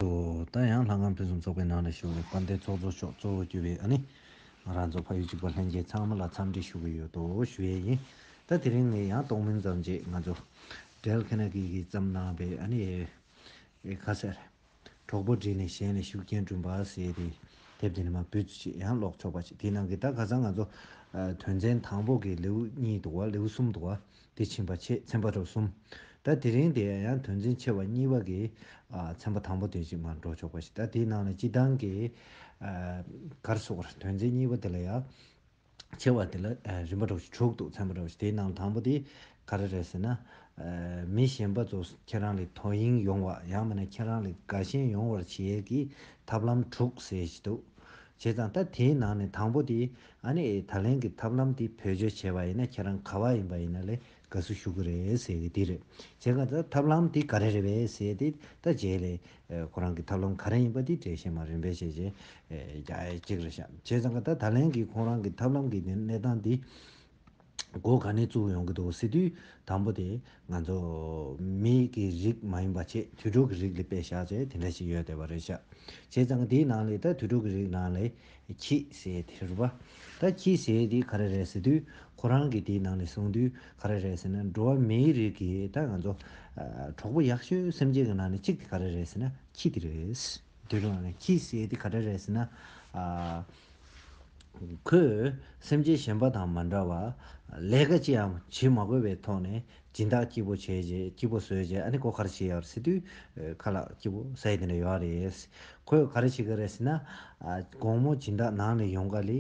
དུ་ལྟ་ཡང་ལྷ་ཁང་ཕུན་སུམ་ཚོགས་པའི་ནང་ལ་ཞུགས་ནས་དཔལ་ལྡན་ཚོགས་གཙོ་མཆོག་གཙོ་བོ་གྱུར་པའི་ནི། ང་རང་ཚོ་ཕ་ཡུལ་གཅིག་པ་ལྷན་རྒྱས་ཚང་མ་ལ་འཚམས་འདྲི་ཞུ་གི་ཡོད་དོ་ཞུ་ཡས་ཡིན། ད་དེ་རིང་ནས་ཡང་གཏོགས་མིང་ཙམ་རྗེས་ང་ཚོ། Dale Carnegie གིས་བརྩམས་གནང་པའི་ནི། ཁ་གསལ། གྲོགས་པོ་བསྒྲིགས་ནས་གཞན་ལས་ཤུགས་རྐྱེན་བསྐྲུན་པ་ཟེར་ཏེ། དེབ་དེ་ནི་མ་བུ་ཚོ་ཆེད་ཡང་ཀློག་ཆོག་པ་ཞིག་དེའི་ནང་གི་ད་ག་ཚང་ང་ཚོ། དོན་ཚན་དང་པོ་གི་ལེའུ་གཉིས་འདུག་བ་ལེའུ་གསུམ་འདུག་བ། དེ་ཕྱིན་པ་ཆེས་ཚན་པ་རུ་གསུམ། ད་དེ་རིང་དེ་ཡང་དོན་ཚན་ཆེ་བ་གཉིས་པ་གི་ཚན་པ་དང་པོ་དེ་ཅིག་མར་འགྲོ་ཆོག་པ་ཞིག་ད་དེའི་ནང་ལ་སྤྱི་བཏང་གི་གར་སོགས་ཀར་དོན་ཚན་གཉིས་པ་དེ་ལ་ཡང། ཆེ་བ་དེ་ལ་རིམ་པ་རུ་ཞིག་དྲུག་འདུག་ཚན་པ་རུ་ཞིག་དེའི་ནང་ལ་དང་པོ་དེ་ག་རེ་རེད་ཟེར་ན། མི་གཞན་པ་ཚོ་ཁྱེད་རང་ལས་དོ་དབྱིངས་ཡོང་བ་ཡང་མིན་ན་ཁྱེད་རང་ལས་དགའ་ཞེན་ཡོང་བར་བྱེད་ཀྱི་ཐབས་ལམ་དྲུག་ཟེར་གྱི་འདུག་བྱས་ཙང་ད་དེའི་ནང་ནས་དང་པོ་དེ། ཨ་ནི་ད་ལན་གྱི་ཐབས་ལམ་དེ་བེད་སྤྱོད་བྱས་པ་ཡིན་ན་ཁྱེད་རང་ག་བ་ཡིན་པ་ཡིན་ན་ལས་དགའ་བསུ་ཞུ་གི་རེད་ཟེར་གི་དེ་རེད་བྱས་ག་ད་ཐབས་ལམ་དེ་ག་རེ་རེད་བས་ཟེར་དེ་ད་རྗེས་ལས་ཁོ་རང་གི་ཐབས་ལམ་ག་རེ་ཡིན་པ་དེ་བྲེ་ཤེས་མ་རེད་འབད་བྱས་བྱས་ཀྱིས་རེད་བྱས་ཙང་ག་ད་ད་ལན་གྱི་ཁོང་རང་གི་ཐབས་ལམ་གྱི་གནས་སྟངས་དེ། སྒོ་ག་ནས་བཙུགས་ཡོང་གི་འདུག་ཟེར་དུས་དང་པོ་དེ་ང་ཚོ་མི་གི་རིགས་མ་ཡིན་པ་ཆེས་དུད་འགྲོ་གི་རིགས་ལས་པད་ཤག་ཅེས་དེ་འདྲ་ཞིག་ཡོད་བསྡད་པ་རེད་ཤག་བྱས་ཙང་དེའི་ནང་ལས་ད་དུད་འགྲོ་གི་རིགས་ནང་ལས་ཁྱི་ཟེར་དེ་རེད་པ། ད་ཁྱི་ཟེར་དེ་ག་རེ་རེད་ཟེར་དུས་ཁོ་རང་གིས་དེའི་ནང་ལས་གསུངས་དུས་ག་རེ་རེད་ཟེར་ན་འགྲོ་བ་མིའི་རིགས་ཀྱི་ད་ང་ཚོ་གྲོགས་པོ་ཡག་ཤོས་སེམས་ཅན་གྱི་ནང་ནས་གཅིག་དེ་ག་རེ་རེད་ཟེར་ན་ཁྱི་དེ་རེད། དེའི་ནང་ལས་ཁྱི་ཟེར་དེ་ག་རེ་རེད་ཟེར་ན། ཁོས་སེམས་ཅན་གཞན་པ་དང་མ་འདྲ་བར། ལས་ཀ་ཅི་ཡང་བྱེད་མ་དགོས་པའི་ཐོག་ནས་སྦྱིན་བདག་སྐྱིད་པོ་བྱས་རྗེས་སྐྱིད་པོ་བཟོས་རྗེས་ཨ་ནེ་ཀོ་ག་རེ་བྱེད་ཡག་རེད་ཟེར་དུས། ཁ་ལག་སྐྱིད་པོ་ཟ་ཡི་དེ་འདྲ་ཡོད་རེད་ཟེར། ཁོས་ག་རེ་བྱེད་ཀྱི་རེད་ཟེར་ན། དགོང་མོ་སྦྱིན་བདག་ནང་ནས་ཡོང་ག་ལི།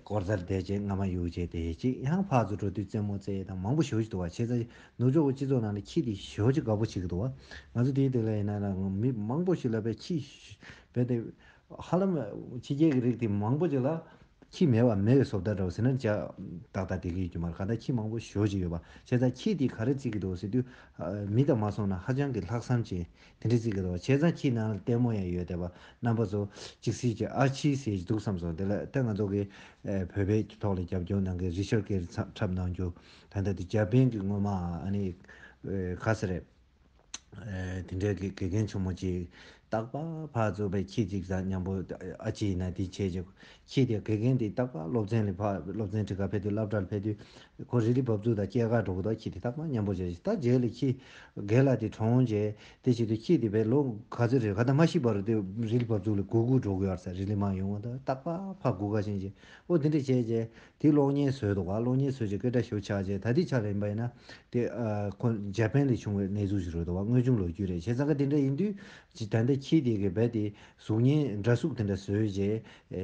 ཀོར་རྩར་བསྡད་རྗེས་རྔ་མ་ཡུག་རྗེས་དེ་གཅིག་ཡང་ཕག་ཚོ་འགྲོ་དུས་རྩེད་མོ་རྩེ་དང་མང་པོ་ཞོ་གཅིག་འདུག་བ་ཆེ་ཚ་ནུབ་ཕྱོགས་ཀྱི་སྤྱི་ཚོགས་ནང་ལ་ཁྱི་དེ་ཞོ་གཅིག་དགའ་པོ་བྱེད་ཀྱི་འདུག་བ། ང་ཚོ་དེའི་སྟེང་ལ་ཡིན་ན་ལ་མི་མང་པོ་ཞིག་ལ་བས་ཁྱི་བས་ཏེ། ཧ་ལམ། ཕྱི་རྒྱལ་གྱི་རིགས་དེ་མང་པོ་ཅིག་ལ། ཁྱི་མེད་བ་མེད་བའི་སོབ་ད་འདྲ་བ་ཟེར་ན་འཇགས། ཏག་ཏག་དེ་གི་ཡོད་ཀྱི་མ་རེད་ག་ད་ཁྱི་མང་པོ་ཞོ་ཅིག་ཡོད་པ་བྱས་ཙང་ཁྱི་དེ་ག་རེ་རྩིས་ཀྱི་འདུག་ཟེར་དུས། མི་དང་མ་སོང་ན་ཧ་ཅང་གི་ལྷག་བསམ་ཅན། དེ་འདྲས་རྩིས་ཀྱི་འདུག་བྱས་ཙང་ཁྱི་ནང་ལ་ལྟད་མོ་ཡང་ཡོད་བསྡད་པ་རྣམ་པ་ཚོ། ཅིག་ཟེར་གྱི་ཨ་ཕྱི་ཟེར་གྱི་འདུག་བསམ་སོང་དེ་ལ་ལྟ་ང་ཚོ་གི། བོད་པའི་ཐོག་ལ་རྒྱབ་སྐྱོར་གནང་མཁན་རི་ཤོར་ཀེ་རི་ཚབ་འཁྲབ་གནང་རྒྱུ། ད་ལྟ་དེ་རྒྱ་བན་གྱི་སྔོན་མ་ཨ་ནི། ག་ས་རེད། དེ་འདྲའི་དགེ་རྒན་ཆུང་མོ་ཅིག། སྟག་ལྤགས་ཕག་གཙུག་པའི་ཁྱི་གཅིག་བཟའ་སྙམ་པོ། ཨ་ཅེ་ཡིན་ན་དེ་ཁྱེད་ཀྱི་ཁྱི་དེ་དགེ་རྒན་དེ་སྟག་ལྤགས་སློབ་ཚན་ལས་ཕག་སློབ་ཚན་ཁྲི་ཀ་ཕེབས་དུས་སླབ་གྲྭ་ལ་ཕེབས་དུས། ཁོ་རི་ལི་བབས་ཚུགས་དང་སྐྱེས་སྐར་གྲོགས་པོ་དག་ཁྱི་དེ་སྟག་ལྤགས་སྙམ་པོ་བྱས་ཤིང་ལྟ་རྗེས་ལས་ཁྱི། རྒན་ལགས་དེ་གྲོངས་རྗེས་དེ་བྱས་དུས་ཁྱི་དེ་བས་ལོ་ག་ཚོད་རེད་ག་ད་མ་ཤི་བར་དུ་རི་ལི་བབས་ཚུགས་ལ་གུ་གུ་གྲོགས་གུ་ཡར་ཟ་རི་ལི་མ་ཡོང་བ་དང་སྟག་ལྤགས་ཕག་གུ་ག་བཞིན་བྱས། ཨོ་དེ་འདྲ་བྱས་རྗེས། དེ་གློག་བརྙན་སོས་དོགས་པ་གློག་བརྙན་སོས་ཀྱི་སྐད་སྒྲ་ཤོད་ཆགས་བྱས་ད་ལྟའི་ཆར་ཡིན་པ་ཡིན་ན། དེ། ཁོ། འཇར་པན་ལས་བྱུང་བའི་གནས་ཚུལ་ཞིག་རེད་དོ་བ་དངོས་བྱུང་ལོ་རྒྱུས་རེད་བྱས་ཙང་ཀ་དེ་འདྲ་ཡིན་དུས། ད་ལྟ་ཁྱིའི་སྡེ་དགེ་བལ་ཏེ། གཟུགས་བརྙན་འདྲ་གཟུགས་དེ་འདྲ་སོས་རྗེས།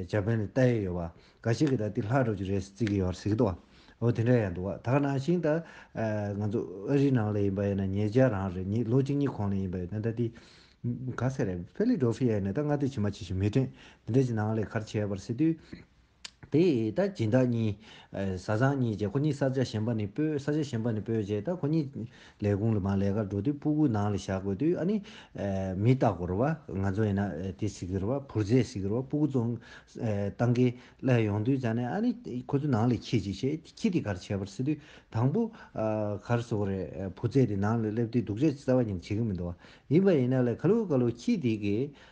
འཇར་པན་ལས་བལྟ་ཡས་ཡོད་པ། ག་ཤེད་ཀྱི་ད་ལྟའི་ལྷག་འགྲོ་རྒྱུ་རེད་བརྩི་གི་ཡོད་སྲིད་དོ། འོ་དེ་འདྲ་ཡང་འདུག་བ་དག་ནང་བཞིན་ད། ང་ཚོ་ཨ་རིའི་ནང་ལས་ཡིན་པ་ཡིན་ན་ཉེ་ཆར་རང་རེ་གཉིས་ལོ་གཅིག་གཉིས་གོང་ལས་ཡིན་པ་ཡིན་ན་ད་ལྟའི། ག་ཚད་རེད་ཕེ་ལི་སྒྲོ་ཕི་ཡའི་ནས་ད་སྔ་དུས་ཕྱི་མ་ཆེ་ཞིང་མི་ཕྲན། དེ་འདྲ་གྱི་ནང་ལས་ཁར་ཆས་པར་སྲིད་དུས། དེ་ད་སྦྱིན་བདག་གཉིས། བཟའ་ཚང་གཉིས་བཅས་ཁོ་གཉིས་ས་ཆ་གཞན་པ་ནས་སྤོས་ས་ཆ་གཞན་པ་ནས་སྤོས་རྗེས་ད་ཁོ་གཉིས། ལས་ཁུངས་ལ་མ་ལས་ཀར་འགྲོ་དུས་སྤུ་གུ་ནང་ལ་བཞག་དགོས་དུས་ཨ་ནི། མི་རྟག་གོ་རུ་བ་ང་ཚོ་ཡིན་ན་དེ་ཟེར་གི་རུ་བ་བུར་རྫས་ཟེར་གི་རུ་བ་སྤུ་གུ་བཙོང། བཏང་གི་སླད་ཡོང་དུས་ད་ནི་ཨ་ནི་ཁོ་ཚོ་ནང་ལས་ཁྱི་གཅིག་བྱས་དེ་ཁྱི་དེ་གར་བྱས་པར་ཟེར་དུས་དང་པོ། གར་སོང་རེད་བུ་རྫས་དེ་ནང་ལ་སླེབས་དུས་སྡུག་ཅག་ཅི་རྩ་བ་ཉིད་བྱེད་གི་མི་འདུག་བ་ཡིན་པ་ཡིན་ན་ལས་ཁ་ལུ་ཁ་ལུ་ཁྱི་དེ་གིས་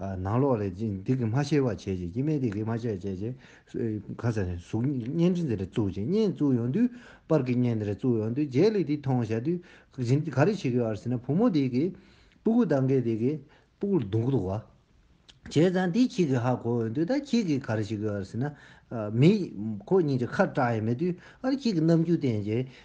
ནང་ལོག་ལས་ཅི་འདི་གི་མ་ཤེས་པ་བྱས་ཅིག་ཅི་མེད་འདི་གི་མ་བྱས་བྱས་ཅིག། གང་ཟེར་ནས་གཟུགས་བརྙན་འདི་འདི་རེ་བཙུགས་ཅིག་བརྙན་བཙུགས་ཡོང་དུས་པར་གི་བརྙན་འདི་རེ་བཙུགས་ཡོང་དུས་རྗེས་ལུས་འདི་མཐོང་བྱ་དུས་གཞན་ག་རེ་བྱེད་ཀྱི་ཡོད་ཟེར་ན་བུ་མོ་འདི་གི་སྤུ་གུ་ལྡང་གི་འདི་གི་སྤུ་གུ་ལྡུང་གི་འདུག་བ། བྱས་ཙང་འདི་ཁྱེད་ཀྱི་ཧ་གོ་ཡོང་དུས་ད་ཁྱེད་ཀྱིས་ག་རེ་བྱེད་ཀྱི་ཡོད་ཟེར་ན། མི་ཁོ་གཉིས་ཀྱི་ཁ་སྐྲག་ཡས་མེད་དུས་ཨ་རེ་ཁྱེད་ཀྱི་རྣམ་འགྱུར་བསྟན་ཅིག་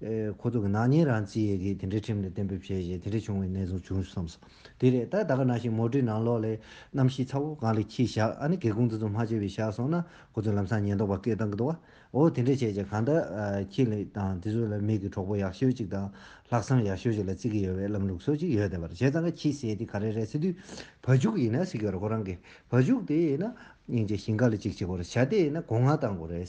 ཁོ་ཚོ་གི་ནག་ཉེས་རང་བརྩི་ཡས་གིས་དེ་འདྲའི་ཁྲིམས་ལ་གཏན་འབེབས་བྱས་རྗེས་དེ་འདྲ་བྱུང་བའི་གནས་ཚུལ་བྱུང་བསམས་སོ། དེ་རེད་ད་ད་ག་ནང་བཞིན་མོ་བྲིས་ནང་ལོག་ལས་རྣམ་བཞི་ཚ་བོ་གང་ལས་ཁྱི་བཞག་ཨ་ནི་གེ་ཀུང་ཙི་ཙོ་མ་བྱས་པས་བཞག་སོང་ན་ཁོ་ཚོ་ལམ་སང་ཉེན་རྟོག་པ་སྐད་བཏང་གི་འདུག་བ་འོ་དེ་འདྲ་བྱས་རྗེས་གང་ལྟར་ཁྱི་ལ་དང་དེ་ཚོ་ལ་མིག་གི་གྲོགས་པོ་ཡག་ཤོས་གཅིག་དང་ལྷག་བསམ་ཡག་ཤོས་གཅིག་ལ་བརྩི་གི་ཡོད་བས་ལམ་ལུགས་སོགས་གཅིག་ཡོད་བསྡད་པར་བྱས་ཙང་ཁ་ཁྱི་ཟས་དེ་ག་རེ་རེད་ཟེར་དུས་བ་ཕྱུགས་ཡིན་ན་ཟིག་གི་རེད་ཁོ་རང་གིས་བ་ཕྱུགས་དེ་ཡིན་ན་སྙིང་རྗེ་ཞིང་ག་ལ་གཅིག་བྱེད་དགོས་རེད་བྱ་དེ་ཡིན་ན་གོ་ང་བཏང་དགོས་རེད།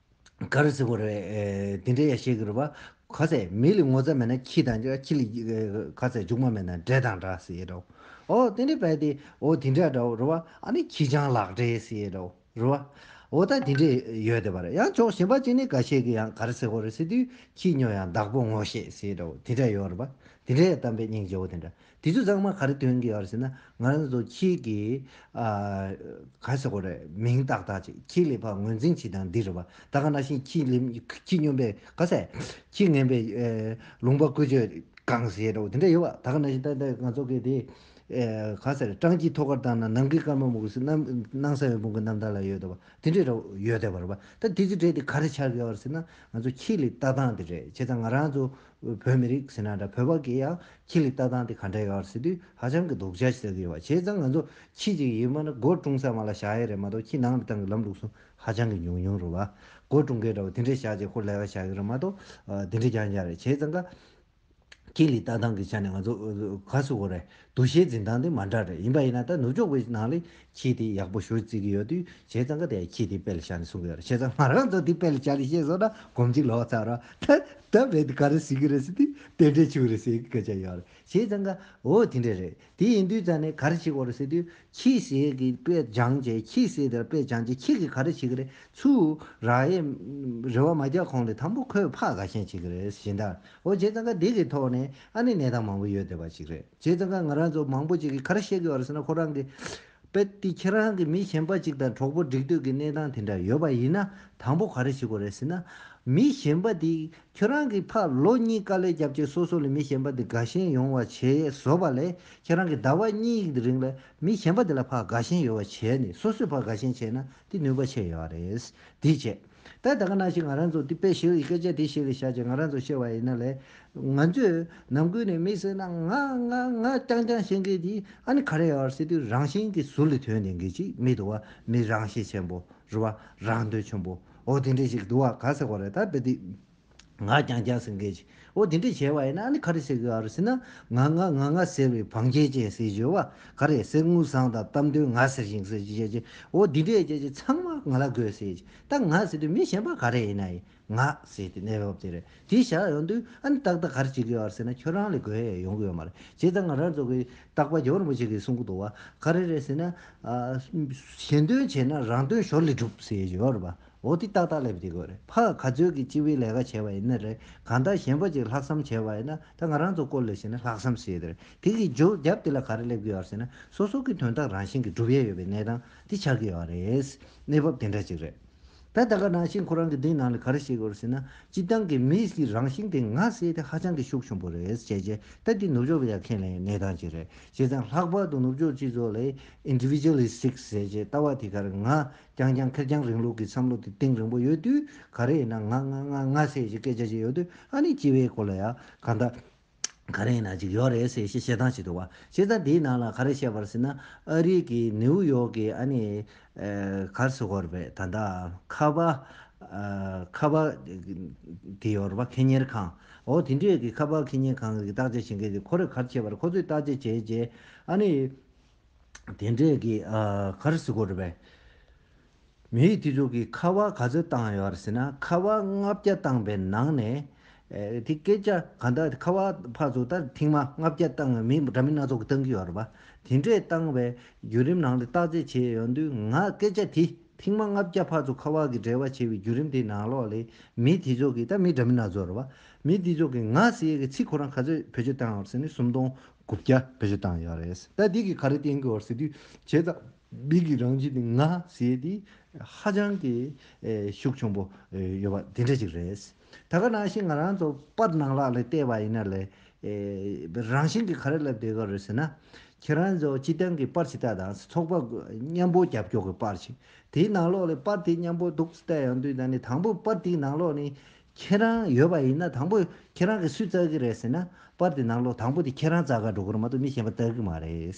ག་རེ་ཟེར་དགོས་རེད། འདི་འདྲའི་ཡ་ཤེས་ཀྱི་རེད་བ། ག་ཚད་མི་ལ་ངོ་ཚ་མེད་ན་ཁྱི་དང་ཁྱི་ལ་ག་ཚད་རྒྱུག་མ་མེད་ན་འདྲེ་དང་འདྲ་ཟེར་ཡས་རོ། འོ་དེ་འདྲའི་བས་ཏེ་འོ་དེ་འདྲ་འདྲ་བོ་རེད་བ། ཨ་ནི་ཁྱི་སྤྱང་ལག་འདྲེ་ཟེར་ཡས་རོ། རེད་བ། འོ་ད་དེ་འདྲས་ཡོད་དེ་བ་རེད། ཡང་ཅོག་གཞན་པ་གཅིག་ནི་ག་ཤེས་ཀྱི་ཡང་ག་རེ་ཟེར་དགོས་རེད་ཟེར་དུས་ཁྱི་སྨྱོ་ཡང་བདག་པོ་ངོ་ཤེས་ཟེར་ཡས་རོ་དེ་འདྲས་ཡོད་རེད་བ། དེ་འདྲའི་གཏམ་དཔེ་སྙིང་རྗེ་བོ་དེ་འདྲ། དེ་ཚོ་ཚང་མ་ག་རེ་སྟོན་གྱི་ཡོད་ཟེར་ན་ང་རང་ཚོ་ཁྱེད་ཀྱི་ག་རེ་ཟེར་དགོས་རེད་མིང་བཏགས་བཏགས་ཅིག་ཁྱེད་ལས་ཕ་ངོས་འཛིན་བྱེད་སྟངས་འདི་རེད་བ་ད་ག་ན་ཤེས་ཁྱེད་ལས་ཁྱེད་སྨྱོན་པའི་ག་ཟེ་ཁྱེད་ངན་པའི་ལུང་པ་ཀུན་སྤྱོད་གང་ཟེ་རོ་དེ་འདྲ་ཡོད་བ་ད་ག་ན་ཤེས་ད་ལྟ་ང་ཚོ་གི་དེ་ག་ཟེ་རེད་སྤྲང་སྐྱིད་ཐོག་ཁར་བཏང་ན་ནང་གི་སྐར་མ་མོ་གུས་སྣང་ས་ཡོད་དཔུང་གི་རྣམ་ཐར་ལ་ཡོད་བ་དེ་འདྲ་རོ་ཡོད་བ་རེད་བ་ད་དེ་ཚོ་བྲལ་ཏེ་ག་རེ་ཆགས་ཀྱི་ཡོད་ཟེར་ན་ང་ཚོ་ཁྱེད་ལས་བཏགས་སྟངས་དེ་རེད་བྱས་ཙང་ང་རང་ཚོ། བོད་མི་རིགས་ཟེར་ན་འདྲ་བོད་པ་གིས་ཡང་ཁྱི་ལི་ལྟ་སྟངས་དེ་ག་འདྲ་ཡོད་ཟེར་དུས་ཧ་ཅང་གི་དོགས་འཇགས་ཤིག་ལྟ་གི་ཡོད་བ་བྱས་ཙང་ང་ཚོ་ཁྱི་གཅིག་ཡིན་མིན་སྒོར་བཀྲུང་ས་མ་ལ་བཞག་ཡས་རེད་མ་གཏོགས་ཁྱི་ནང་དུ་བཏང་གི་ལམ་ལུགས་སུ་ཧ་ཅང་གི་ཉུང་ཉུང་རུ་བ་སྒོར་བཀྲུང་མཁན་འདྲ་བ་དེ་འདྲས་བཞག་རྗེས་ཁོ་ལས་ཀ་བཞག་གི་རེད་མ་གཏོགས་དེ་འདྲས་ཀྱང་ཡང་རེད་བྱས་ཙང་ཁྱི་ལི་ལྟ་སྟངས་གི་ཆ་ནས་ང་ཚོ་ག་སུ་གོ་རེད། འདུ་ཤེས་འཛིན་སྟངས་དེ་མ་འདྲ་རེད་ཡིན་པ་ཡིན་ན་ད་ནུབ་ཕྱོགས་པའི་ནང་ལས་ཁྱི་དེ་ཡག་པོ་ཞུ་རྩིས་ཀྱི་ཡོད་དུས་བྱས་ཙང་ཀ་དེའི་ཁྱི་དེ་དཔེ་ལ་བཞག་ནས་གསུང་གི་ཡོད་རེད་བྱས་ཙང་ང་རང་ཚོ་དེ་དཔེ་ལ་བཞག་ནས་བཤད་སོང་ན་གོམས་གཅིག་ལོག་ཚར་བ་ད་ད་དཔེ་དེ་ག་རེ་ཟིག་གི་རེད་ཟེར་དུས་དེ་འདྲའི་ཆུང་རེད་ཟེར་གི་སྐད་ཆ་ཡོད་རེད་བྱས་ཙང་ཀ་འོ་དེ་འདྲ་རེད་དེ་ཡིན་དུས་ཙང་ནས་ག་རེ་བྱེད་དགོས་རེད་ཟེར་དུས་ཁྱི་ཟས་ཀྱི་དཔེ་སྦྱང་བྱས་ཁྱི་ཟས་དེ་ལ་དཔེ་སྦྱང་བྱས་ཁྱི་གིས་ག་རེ་བྱེད་ཀྱི་རེད་ཚུར་ར་ཡས་རེ་བ་མ་རྒྱག་གོང་ལས་དང་པོ་ཁོས་ཕག་ག་ཞན་བྱེད་ཀྱི་རེད་བྱས་ཟླ། ཨོ་རྗེ་ཙང་ཁ་འདི་གི་ཐོག་ནས་ཨ་ནི་གནས་སྟངས་མང་པོ་ཡོད་བསྡད་པ་ཅིག་རེད་རྗེ་ཙང་ཁ་ང་རང་ཚོ་མང་པོ་ཅིག་གིས་ག་རེ་བཤད་གི་ཡོད་རེད་ཟེར་ན་ཁོ་རང་གིས་དཔེ་དེ་ཁྱེད་རང་གི་མི་གཞན་པ་ཅིག་དང་གྲོགས་པོ་འགྲིག་འདོད་ཀྱི་གནས་སྟངས་དེ་འདྲ་ཡོད་པ་ཡིན་ན་དང་པོ་ག་རེ་བྱེད་དགོས་རེད་ཟེར་ན། མི་གཞན་པ་དེ་ཁྱོད་རང་གི་ཕ་ལོ་གཉིས་དཀའ་ལས་བརྒྱབ་རྗེས་སོ་སོ་ལས་མི་གཞན་པ་དེ་དགའ་ཞེན་ཡོང་བ་བྱས་བཟོ་བ་ལས་ཁྱེད་རང་གི་ཟླ་བ་གཉིས་ཀྱི་རིང་ལ་མི་གཞན་པ་དེ་ལ་ཕ་དགའ་ཞེན་ཡོད་བ་བྱས་ནས་སོ་སོས་ཕ་དགའ་ཞེན་བྱས་ན་དེ་ནུས་པ་ཆེ་ཡོད་རེད་དེའི་རྗེས། ད་ད་ག་ནང་བཞིན་ང་རང་ཚོ་འདི་དཔེ་ཞིག་སྐད་ཆ་དེ་ཞིག་བཤད་ཅིང་ང་རང་ཚོ་བཤད་པ་ཡིན་ན་ལས། ང་ཚོས་ནང་ཁུལ་ནས་མི་སེར་ནང་ང་ང་ང་རྐྱང་རྐྱང་བཤད་མཁན་དེ་ཨ་ནི་ག་རེ་ཡོད་ཨར་སི་ཏུས་རང་བཞིན་གྱི་ཟུར་ལས་དོན་དེ་འགའི་ཅིག་མི་འདུག་བ་མི་རང་ཤེད་ཆེན་པོ་རུ་བ་རང་འདོད་ཆུང་པོ་འོ་དེ་འདྲས་ཞིག་འདུག་བ་ག་ཟེར་བ་རེད་ད་དཔེ་དེ། ང་རྐྱང་རྐྱང་ཟེར་མཁན་ཞིག་འོ་དེ་འདྲས་བྱས་པ་ཡིན་ན་ཨ་ནི་ག་རེ་བྱེད་དགོས་ཨ་རེ་ཟེར་ན་ང་ང་ང་ང་ཟེར་བའི་བང་ཆེན་ཅན་ཟེར་བཞོལ་བ་ག་རེ་ཟེར་དངུལ་སྲང་དང་གཏམ་དོན་ང་ཟེར་ཞིང་ཟེར་ཅེས་བྱས་འོ་དེ་འདྲས་བྱས་ཚང་མ་ང་ལ་དགོས་ཟེར་ཅེས་ད་ང་ཟེར་དུས་མི་གཞན་པ་ག་རེ་ཡིན་ན་ཡིན་ང་ཟེར་དུས་གནས་བབ་དེ་རེད་དེ་བཞག་ཡོང་དུས་ཨ་ནི་ཏག་ཏག་ག་རེ་བྱེད་དགོས་ཨ་རེ་ཟེར་ན་ཁྱོད་རང་ལས་དགོས་ཡས་ཡོང་གི་ཡོད་མ་རེད་བྱས་ཙང་ང་རང་ཚོ་གི་སྟག་པ་རྒྱལ་པོ་རིན་པོ་ཆེ་གིས་གསུང་གི་འདུག་བ་ག་རེ་རེད་ཟེར་ན། གཞན་དོན་བྱས་ན་རང་དོན་ཞོར་ལས་སྒྲུབ་ཟེར་བཞོལ་བ་འོ་དེ་ཏག་ཏག་སླེབས་བསྡད་དགོས་རེད་ཕ་ག་ཚོད་ཀྱི་སྤྱི་བའི་ལས་ཀ་བྱས་པ་ཡིན་ན་རེད་གང་ལྟར་གཞན་པ་ཅིག་ལྷག་བསམ་བྱས་པ་ཡིན་ན་ད་ང་རང་ཚོ་སྐོར་ལས་བྱེད་ན་ལྷག་བསམ་བྱེད་རེད་དེ་གི་རྒྱོ་རྒྱབ་དེ་ལ་ག་རེ་སླེབས་ཀྱི་ཡོད་ཟེར་ན་སོ་སོ་ཀྱི་དོན་དག་རང་བཞིན་གྱི་འགྲུབ་ཡས་ཡོད་པའི་གནས་སྟངས་དེ་ཆགས་ཀྱི་ཡོད་རེད་གནས་བབ་དེ་འདྲ་ཅིག་རེད་ད་ད་ག་ནང་བཞིན་ཁོ་རང་གི་འདི་ནང་ལ་ག་རེ་བྱེད་དགོས་རེད་ཟེར་ན་སྤྱི་བཏང་གི་མི་ཞིག་རང་བཞིན་དེ་ང་བསད་དེ་ཧ་ཅང་གི་ཤུགས་ཆུང་པོ་རེད་བྱས་རྗེས་ད་དེ་ནུབ་ཕྱོགས་པ་ཡག་ཁས་ལེན་ཡོད་གནས་སྟངས་ཅིག་རེད་བྱས་ཙང་ལྷག་པར་དུ་ནུབ་ཕྱོགས་སྤྱི་ཚོགས་ལས Individualistic ཟེར་རྗེས་ལྟ་བ་དེ་ག་རེ་ང་རྐྱང་རྐྱང་ཁེར་རྐྱང་རིང་ལུགས་ཀྱི་བསམ་བློ་དེ་གཏིང་རིང་པོ་ཡོད་དུས་ག་རེ་ཡིན་ན་ང་ང་ང་ང་ཟེར་ཞེས་སྐད་ཆ་བཤད་ཡོད་དུས་ཨ་ནི་སྤྱི་བའི་སྐོར་ལ་ཡང་གང་འདྲ་ག་རེ་ཡིན་ན་ཅིག་ཡོད་རེད་ཟེར་ཞེས་བཤད་སྟངས་ཤིག་འདུག་བ་བྱས་ཙང་དེའི་ནང་ལ་ག་རེ་བཤད་པར་ཟེར་ན་ཨ་རིག་གི་ནིའུ་ཡོག་གི་ཨ་ནི་གར་སོ་གོར་བའི་ད་ལྟ་ཁ་བ་ཁ་བ་དེ་ཡོད་རེད་བ་ཁེ་གཉེར་ཁང་འོ་དེ་འདྲས་ཀྱི་ཁ་བ་ཁེ་གཉེར་ཁང་གི་བརྟག་དཔྱད་བྱེད་མཁན་དེ་ཁོ་རེ་གར་བྱས་པར་ཁོ་ཚོས་བརྟག་དཔྱད་བྱས་རྗེས་ཨ་ནི། དེ་འདྲའི་གི་གར་བཟི་གོ་རུ་བས། མི་ཡིས་དེ་ཚོ་གི་ཁ་བ་ག་ཚོད་བཏང་ཡོད་ར་ཟེ་ན་ཁ་བ་ལྔ་བརྒྱ་བཏང་པའི་ནང་ནས། དེ་སྐད་ཆ་ག་འདྲ་ཁ་བ་ཕར་ཚོ་ད་ཐེངས་མ་ལྔ་བརྒྱ་བཏང་བའི་མི་འདྲ་མི་སྣ་ཚོགས་གི་བཏང་གི་ཡོད་ར་བ། དེ་འདྲའི་བཏང་བའི་བརྒྱུད་རིམ་ནང་དེ་བརྟག་དཔྱད་བྱས་ཡོད་དུས་ང་སྐད་ཆ་དེ་ཐེངས་མ་ལྔ་བརྒྱ་ཕར་ཚོ་ཁ་བ་གི་འབྲེལ་བ་བྱས་པའི་བརྒྱུད་རིམ་དེ་ནང་ལོགས་ལས་མི་དེ་ཚོ་གི་ད་མི་འདྲ་མི་སྣ་ཚོགས་ར་བ། མི་དེ་ཚོགས་གི་ང་ཟི་ཡས་གི་ཚིག་ཁོ་རང་ག་ཚོད་བེད་སྤྱོད་བཏང་ཡོད་ར་ཟེ་ན་སུམ་སྟོང་དགུ་བརྒྱ་བེད་སྤྱོད་བཏང་ཡོད་རེད། ད་འདི་གི་ག་རེ་བསྟན་གི་བར་ཟེར་དུས་བྱས་ཙང་མིག་གི་རང་བཞིན་ནི་ང་ཟེར་དུས་ཧ་ཅང་གི་ཤུགས་ཆུང་པོ་ཡོད་པ་དེ་འདྲ་ཞིག་རེད། ད་ག་ནང་བཞིན་ང་རང་ཚོ་པར་ནང་ལག་ལས་བལྟས་པ་ཡིན་ན་ལས་རང་བཞིན་གྱི་ག་རེ་ལབ་བསྡད་གི་རེད་ཟེར་ན། ཁྱེད་རང་ཚོ་སྤྱི་བཏང་གི་པར་ཇི་ལྟར་དང་ཚོགས་པ་མཉམ་པོ་རྒྱབ་སྐྱོར་གི་པར་ཞིག་དེའི་ནང་ལོགས་ལས་པར་དེ་མཉམ་པོ་འདུག་ཟེར་ཡང་དུས་ད་ནི་དང་པོ་པར་དེའི་ནང་ལོགས་ནི་ཁྱེད་རང་ཡོད་པ་ཡིན་ན་དང་པོ་ཁྱེད་རང་གིས་སུས་བཙལ་གི་རེད་ཟེར་ན་པར་དེ་ནང་ལོག་དང་པོ་དེ་ཁྱེད་རང་བཙལ་ག་འགྲོ་གི་རེད་མ་གཏོགས་མི་གཞན་པ་བཙལ་གི་མ་རེད།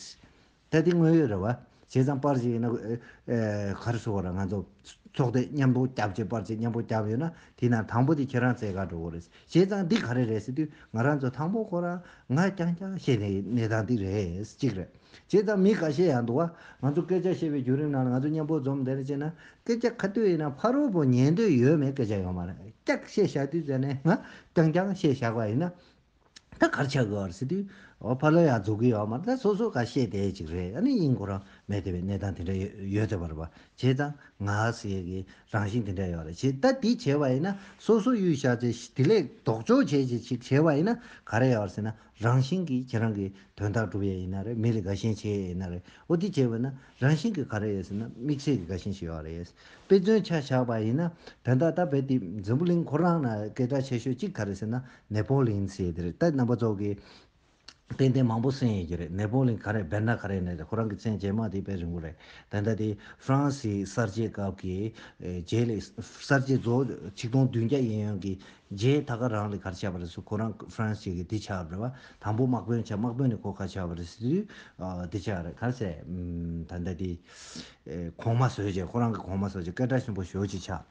ད་དེ་དངོས་ཡོད་རེད་བ། བྱས་ཙང་པར་ཞིག་ཡིན་ན་གར་སོ་ལ་ང་ཚོ་ཚོགས་སྡེ་མཉམ་པོ་བརྒྱབ་བྱས་པར་ཅིག་མཉམ་པོ་བརྒྱབ་ཡོད་ན་དེ་ནང་དང་པོ་དེ་ཁྱེད་རང་བཙལ་ག་འགྲོ་གི་རེད། བྱས་ཙང་འདི་ག་རེ་རེད་ཟེར་དུས་ང་རང་ཚོ་དང་པོ་ཁོ་རང་ང་རྐྱང་རྐྱང་བཤད་ནས་གནས་སྟངས་འདི་རེད་གཅིག་རེད། བྱས་ཙང་མི་ག་ཤེད་ཡང་འདུག་བ། ང་ཚོ་སྐད་ཆ་བཤད་པའི་བརྒྱུད་རིམ་ནང་ལ་ང་ཚོ་མཉམ་པོ་འཛོམས་བསྡད་ནས་བྱས་ན་སྐད་ཆ་ག་དུས་ཡིན་ན་ཕ་རོལ་པོ་ཉན་འདོད་ཡོད་མེད་སྐད་ཆ་ཡོད་མ་རེད་སྐྱག་བཤད་བཞག་དུས་བྱས་ནས་ང་རྐྱང་རྐྱང་བཤད་བཞག་པ་ཡིན་ན་ད་གར་ཆགས་དགོས་བར་སྲིད་དུས་ཕ་ལོལ་ཡང་རྫོགས་གི་ཡོད་མ་རེད་ད་སོ་སོ་ག་ཤེད་དེ་ཅིག་རེད་ཨ་ནི་དབྱིན་གོ་རང་མེད་དེ་བས་གནས་སྟངས་དེ་འདྲ་ཡོད་དེ་བར་བ་བྱས་ཙང་ང་ཟེར་གི་རང་བཞིན་དེ་འདྲ་ཡོད་རེད་བྱས་ད་དེ་བྱས་བ་ཡིན་ན་སོ་སོ་གཡུལ་བཞག་ཚེ་དེ་ལས་ལྡོག་ཕྱོགས་བྱས་ཅིག་བྱས་བ་ཡིན་ན་ག་རེ་ཡོད་བར་སྲིད་ན་རང་བཞིན་གྱིས་ཁྱེད་རང་གི་དོན་དག་འགྲུབ་ཡས་ཡིན་ན་རེད་མི་ལ་དགའ་ཞེན་བྱེད་ཡས་ཡིན་ན་རེད་འོ་དེ་བྱས་པས་ན་རང་བཞིན་གྱིས་ག་རེ་ཡས་ཟེར་ན་དམིགས་བསལ་གྱི་དགའ་ཞེན་ཞིག་ཡོད་རེད་དཔེ་མཚོན་ཆ་བཞག་པ་ཡིན་ན་དོན་དག་ད་བལ་དེ་འཛམ་བུ་གླིང་ཁོ་རང་ན་སྐད་གྲགས་ཆེ་ཤོས་གཅིག་ག་རེ་ཟེར་ན་ནེ་པོ་ལིན་ཟེར་དེ་རེད་ད་རྣམ་པ་ཚོ་གི་དཔེ་དེབ་མང་པོ་གསན་ཡས་ཀྱི་རེད་ནེ་པོ་ལིན་ག་རེ་བལ་ན་ག་རེ་ནས་རེད་ཁོ་རང་གི་མཚན་རྗེས་མ་དེ་བལ་རིང་པོ་རེད་བལ་ད་དེ་ཧྥ་རན་སིའི་གསར་བརྗེའི་སྐབས་ཀྱི་རྗེས་ལས་གསར་བརྗེ་རྫོགས་ཆིག་སྟོང་བདུན་བརྒྱ་ཡན་ཡོན་གྱི་རྗེས་ད་ག་རང་ལས་གར་བྱས་པ་རེད་སུ་ཁོ་རང France བྱས་གི་དེ་ཆགས་རེད་བ་དང་པོ་དམག་དཔོན་བྱས་དམག་དཔོན་ནས་ཁོ་ག་ཆགས་པ་རེད་སུ་དེ་ཆགས་རེད་གར་བྱས་ད་ལྟ་དེ་གོང་མ་བཟོས་བྱས་ཁོ་རང་གི་གོང་མ་བཟོས་བྱས་སྐད་གྲགས་ཆེན་པོ་ཞོ་གཅིག་ཆགས་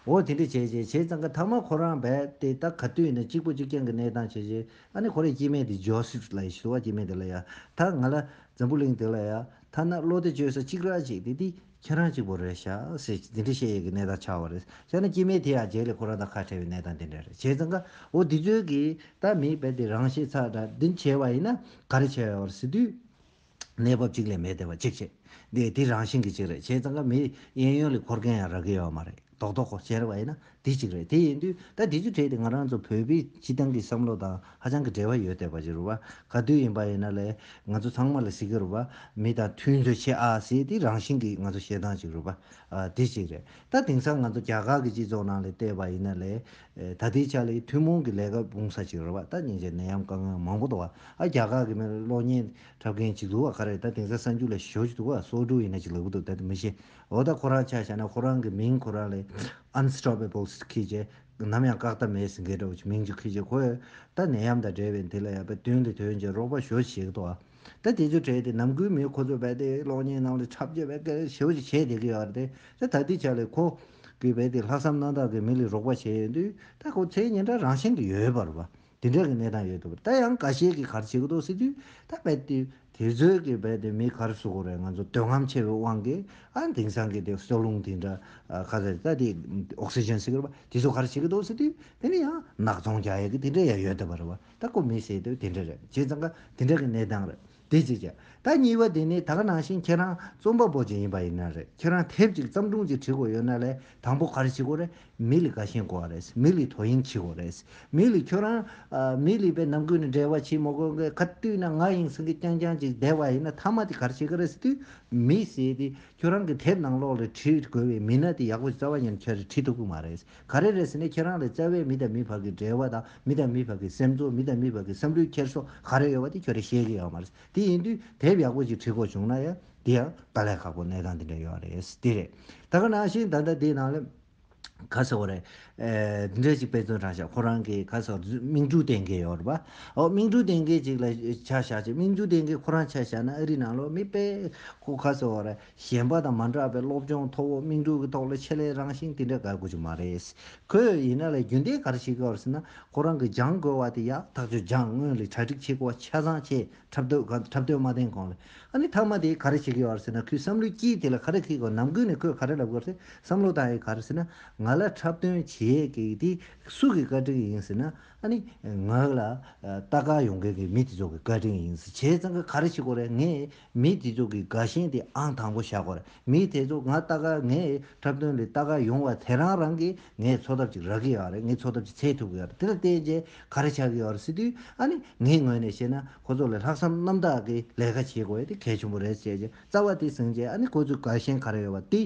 འོ་དེ་འདྲ་བྱས་བྱས་བྱས་ཙང་གི་ཐ་མ་ཁོ་རང་བས་དེ་ད་ག་དུས་ནས་གཅིག་པོ་གཅིག་རྐྱང་གི་གནས་སྟངས་བྱས་བྱས་ཨ་ནི་ཁོ་རའི་སྐྱེས་མའི་དེ Joseph ལ་ཡི་བཟོ་བ་སྐྱེས་མའི་དེ་ལ་ཡ་ད་ང་ལ་འཛམ་བུ་གླིང་དེ་ལ་ཡ་ད་ན་བློ་བདེ་བཅོལ་ས་གཅིག་རག་བྱས་དེ་དེ་ཁྱེད་རང་གཅིག་པོ་རེད་ཤག་ཟེར་དེ་འདྲའི་བཤད་ཡས་ཀྱི་གནས་དང་ཆགས་བ་རེད་ཤག་ན་སྐྱེས་མའི་དེ་ཡང་བརྗེད་ལས་ཁོ་རང་དང་ཁ་བྲལ་བའི་གནས་དང་དེ་འདྲ་རེད་བྱས་ཙང་ཀ་འོ་དེ་ཚོའི་གི་ད་མིག་བལ་ཏེ་རང་ཤེས་ཚག་དྲ་འདི་བྱས་བ་ཡིན་ན་ག་རེ་བྱས་བ་རེད་ཟེར་དུས། གནས་བབ་གཅིག་ལས་མེད་དེ་བ་གཅིག་བྱས་དེ་དེ་རང་བཞིན་གྱི་གཅིག་རེད་བྱས་ཙང་ཀ་མི་གཡས་གཡོན་ལས་འཁོར་མཁན་ཡང་རག་གི་ཡོད་བ་མ་རེད། རྡོག་རྡོག་གོ་གཞན་རེ་བ་ཡིན་ན་དེ་གཅིག་རེད་དེ་ཡིན་དུས་ད་དེ་ཚོ་བྲལ་ཏེ་ང་རང་ཚོ་བོད་པའི་སྤྱི་བཏང་གི་བསམ་བློ་དང་ཧ་ཅང་གི་འབྲེལ་བ་ཡོད་བལྟས་པ་ཞིག་རུ་བ་ག་དུས་ཡིན་པ་ཡིན་ན་ལས་ང་ཚོ་ཚང་མ་ལ་ཟི་གི་རུ་བ་མི་དང་མཐུན་རྫོད་བྱེད་ཨ་ཟེ་དེ་རང་བཞིན་གི་ང་ཚོ་ཞེ་སྡང་ཞིག་རུ་བ་དེ་གཅིག་རེད་ད་དེང་སང་ང་ཚོ་རྒྱ་གར་གི་སྤྱི་ཚོགས་ནང་ལས་བལྟས་པ་ཡིན་ན་ལས་ད་ལྟའི་ཆ་ལས་ཐུན་མོང་གི་ལས་ཀ་སྤུངས་ས་ཞིག་རུ་བ་ད་སྙིང་རྗེ་ནད་ཡམས་དཀའ་ངལ་མང་པོ་འདུག་ཨ་རྒྱ་གར་གི་མིར་གློག་བརྙན་འཁྲབ་མཁན་གཅིག་འདུག་བ་ག་རེ་ད་དེང་སང་གསར་འགྱུར་ལ་ཞོ་ཅིག་འདུག་བ་སོ་དྲུག་ཡིན་ན་ཅིག་ལབ་གི་འདུག་ད་དེ་མི་ཤེས་འོ་ད་ཁོ་རང་ཆ་བཞག་ན་ཁོ་རང་གི་མིང་ཁོ་རང་ལས Unstoppable Kid ཅེས་ནམ་ཡང་བཀག་ཐབས་མེད་ཟིན་གྱི་འདྲ་བོ་མིང་ཅིག Kid ཅེས་ཁོས་ད་ནད་ཡམས་དང་བྲལ་བའི་འདི་ལ་ཡག་པའི་དོན་གྱི་དོན་གྱི་རོགས་པ་ཞུ་ཞིག་དོ། ད་དེ་ཚོ་བྲལ་ཏེ་ནམ་དགུན་མི་ཁོ་ཚོས་བལ་ཏེའི་གློག་བརྙན་རྣམས་ལ་འཁྲབ་རྒྱུ་བལ་ཀེར་ཞེ་བོ་ཞིག་བྱེད་བསྡད་ཀྱི་ཡོད་རེད་དེ། ད་དེའི་ཆ་ལས་ཁོ་གིས་བལ་ཏེའི་ལྷག་བསམ་རྣམ་དག་གིས་མི་ལ་རོགས་པ་བྱས་ཡོད་དུས་ད་ཁོ་ཚེ་ཉིན་གྲངས་རང་བཞིན་གྱི་ཡོལ་བར་བབས། དེ་འདྲ་གི་གནས་སྟངས་ཡོད་འདུག་ད་ཡང་འགའ་ཤས་ཀྱི་གར་བྱེད་ཀྱི་འདུག་ཟེར་དུས་ད་རྦད་དེ་དེ་ཚོའི་གི་རྦད་དེ་མི་གར་སུ་གོ་རེད་ང་ཚོ་འདོད་རྔམ་ཆེ་བའི་དབང་གིས་ཨ་དེང་སང་གི་དེ་གསོ་རླུང་དེ་འདྲ་ཁ་ཟེར་ད་དེ Oxygen ཟེར་གི་རེད་པ་དེ་ཚོ་གར་བྱེད་ཀྱི་འདུག་ཟེར་དུས་དེ་ནི་ཡང་ནག་ཚོང་རྒྱག་ཡ་གི་དེ་འདྲ་ཡང་ཡོད་འདུག་པ་རེད་བ་ད་ཀོ་མི་ཟེར་དུས་དེ་འདྲ་རེད་བྱས་ཙང་ཀ་དེ་འདྲ་གི་གནས་སྟངས་རེད། དེ་ཅི་བྱ། ད་གཉིས་པ་དེ་ནི་ད་ག་ནང་བཞིན་ཁྱེད་རང་རྩོམ་པ་པོ་ཅིག་ཡིན་པ་ཡིན་ན་རེད་ཁྱེད་རང་དེབ་ཅིག་བརྩམས་སྒྲུང་ཅིག་བྲིས་དགོས་ཡོད་ན་ལས་དང་པོ་ག་རེ་བྱེད་དགོས་རེད་མི་ལི་ག་ཤེས་དགོས་བ་རེད་མི་ལི་དོ་དབྱིངས་བྱེད་དགོས་རེད་མི་ལི་ཁྱོད་རང། མི་ལི་པའི་ནང་ཁུལ་ནས་འབྲེལ་བ་བྱེད་མ་དགོས་གི་ག་དུས་ན་ང་ཡིང་སེང་གེ་རྐྱང་རྐྱང་ཅིག་བསྡད་བ་ཡིན་ན་མཐའ་མ་དེ་ག་རེ་བྱེད་གི་རེད་ཟེར་དུས་མི་ཟེར་དེ་ཁྱོད་རང་གི་དེབ་ནང་ལོགས་ལས་བྲིས་དགོས་བའི་མི་སྣ་དེ་ཡག་པོ་རྩ་བ་ཉེར་མཁན་རེད་བྲིས་ཐུབ་གི་མ་རེད། ག་རེ་རེད་ཟེར་ནས་ཁྱེད་རང་ལ་རྩ་བའི་མི་དང་མི་བར་གྱི་འབྲེལ་བ་དང་མི་དང་མི་བར་གྱི་སེམས་ཚོར་མི་དང་མི་བར་གྱི་བསམ་ལུས་འཁྱེར་སོ་ག་རེ་ཡོད་པ་དེ་ཁྱོད་རང་ཤེས་ཀྱི་ཡོད་མ་རེད། དེ་ཡིན་དུས་དེབ་ཡག་པོ་ཞིག་བྲིས་དགོས་བྱུང་ན་ཡང་དེ་ཡང་ད་ལས་ཁག་པོ་གནས་སྟངས་དེ་འདྲ་ཡོད་རེད། དེ་རེད། ད་ག་ནང་བཞིན་ད་ལྟ་དེའི་ནང་ལ། ག་ཟེར་བ་རེད། འདི་འདྲ་ཞིག་དཔེ་མཚོན་དྲངས་ཤག་ཁོ་རང་གི་ག་ཟེར་བ་རེད་དམིགས་འབྲུ་གཏན་འཁེལ་ཡོད་རེད་པ། ཨོ་དམིགས་འབྲུ་གཏན་འཁེལ་ཅིག་ལ་ཆ་བཞག་ཅིག་དམིགས་འབྲུ་གཏན་འཁེལ་ཁོ་རང་ཆ་བཞག་ན་ཨ་རིའི་ནང་ལོ་མི་དཔེ། ཁོ་ག་ཟེར་བ་རེད། གཞན་པ་དང་མ་འདྲ་བའི་སློབ་སྦྱོང་མཐོ་བོ་དམིགས་འབྲུ་གི་ཐོག་ལ་ཆེད་ལས་རང་བཞིན་དེ་འདྲ་དགར་དགོས་ཀྱི་མ་རེད། ཁོས་ཡིན་ན་ལས་རྒྱུན་ལྡན་ག་རེ་ཞིག་དགར་ཟེར་ན་ཁོ་རང་གི་སྦྱང་དགོས་བ་དེ་ཡག་ཐག་ཆོད་སྦྱངས་དངོས་ལས་གྲ་སྒྲིག་བྱེད་དགོས་བ་ཆ་ཚང་བྱས་འཁྲབ་སྡོད་ག་འཁྲབ་སྡོད་མ་བསྟན་གང་ལས་ཨ་ནི་མཐའ་མ་དེ་ག་རེ་བྱེད་ཀྱི་ཡོད་ཟེར་ན་ཁོའི་བསམ་བློའི་དཀྱིལ་དེ་ལ་ག་རེ་ཁེལ་དགོས་ནམ་ཀུན་ནས་ཁོས་ག་རེ་ལབ་དགོས་ཟེར་བསམ་བློ་བཏང་ཡོད་ག་རེ་ཟེར་ན་ང་ལ་འཁྲབ་སྟོན་བྱེད་ཀྱི་དེ་སུ་གི་བཀའ་དྲིན་ཡིན་ཟེར་ན་ཨ་ནི་ངག་ལ་ལྟ་དགའ་ཡོང་མཁན་གྱི་མི་དེ་ཚོ་གི་བཀའ་དྲིན་ཡིན་ཟེར་བྱས་ཙང་གི་ག་རེ་བྱེད་དགོས་རེད་ངས་མི་དེ་ཚོ་གི་དགའ་ཞེན་དེ་ཨང་དང་པོ་བཞག་གོར་མི་དེ་ཚོ་ང་ལྟ་ག་ངའི་འཁྲབ་སྟོན་ལས་ལྟ་ག་ཡོང་བ་དེ་རང་རང་གིས་ངས་འཚོ་ཐབས་ཅིག་རག་གི་ཡོད་རེད་ངས་འཚོ་ཐབས་ཅིག་འཚལ་ཐུབ་གི་ཡོད་རེད་དེ་ལ་བརྟེན་རྗེས་ག་རེ་བྱ་གི་ཡོད་རེད་ཟེར་དུས་ཨ་ནི་ངའི་ངོས་ནས་བཤད་ན་ཁོ་ཚོ་ལ་ལྷག་བསམ་རྣམ་དག་གི་ལས་ཀ་བྱེད་དགོས་དེ་གལ་ཆེན་པོ་རེད་ཞེས་རྩ་བ་དེ་ཟིན་རྗེས་ཨ་ནི་ཁོ་ཚོའི་དགའ་ཞེན་ག་རེ་ཡོད་པ་དེ་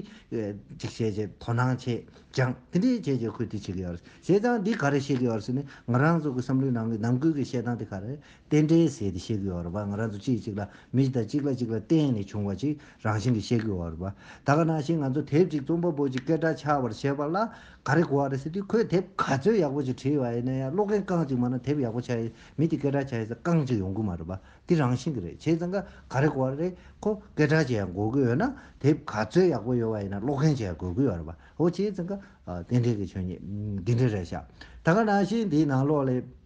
ཅིག་བྱེད་ཆེད་དོ་སྣང་བྱེད་ཀྱང་དེ་འདྲའི་བྱེད་ཆེད་ཁུལ་དེ་བྱེད་གི་ཡོད་རེད་བྱེད་སྟངས་འདི་ག་རེ་བཤད་གི་ཡོད་རེད་ཟེར་ནས་ང་རང་ཚོ་གི་བསམ་བློའི་ནང་གི་ནམ་ཁུལ་གྱི་བཤད་སྟངས་དེ་ག་རེ་རྟེན་འབྲེལ་ཟེར་ཏེ་བཤད་དགོས་བར་པ་ང་རང་ཚོ་གཅིག་གཅིག་ལ་མི་གཅིག་དང་གཅིག་ལ་གཅིག་ལ་བརྟེན་ནས་བྱུང་བ་ཅིག་རང་བཞིན་གྱིས་བཤད་དགོས་བར་པ། ད་ག་ནང་བཞིན་ང་ཚོ་དེབ་ཅིག་རྩོམ་པ་པོ་གཅིག་སྐད་སྒྲ་ཆགས་པར་བྱེད་པ་ལ་ག་རེ་གོ་བ་རེད་ཟེར་དུས་ཁོས་དེབ་ག་ཚོད་ཡག་པོ་ཅིག་བྲིས་བ་ཡིན་ན་ཡང་ཀློག་མཁན་རྐང་གཅིག་མ་གནང་དེབ་ཡག་པོ་ཆགས་ཡིན་མིན་དེ་སྐད་སྒྲ་ཆགས་ཡིན་ས་རྐང་གཅིག་ཡོང་དགོས་མ་རེད་པ། དེ་རང་བཞིན་གྱིས་རེད་བྱས་ཙང་ཀ་ག་རེ་གོ་བ་རེད་ཁོ་སྐད་སྒྲ་ཅིག་ཡང་གོ་དགོས་ཡོད་ན་དེབ་ག་ཚོད་ཡག་པོ་ཡོད་བ་ཡིན་ན་ཀློག་མཁན་ཅིག་ཡང་གོ་དགོས་བར་པ། ཨོ་བྱས་ཙང་ཀ་རྟེན་འབྲེལ་གྱི་ཆོས་ཉིད་འདི་འདྲ་རེད་བཞག་ད་ག་ནང་བཞིན་དེའི་ནང་ལོགས་ལས།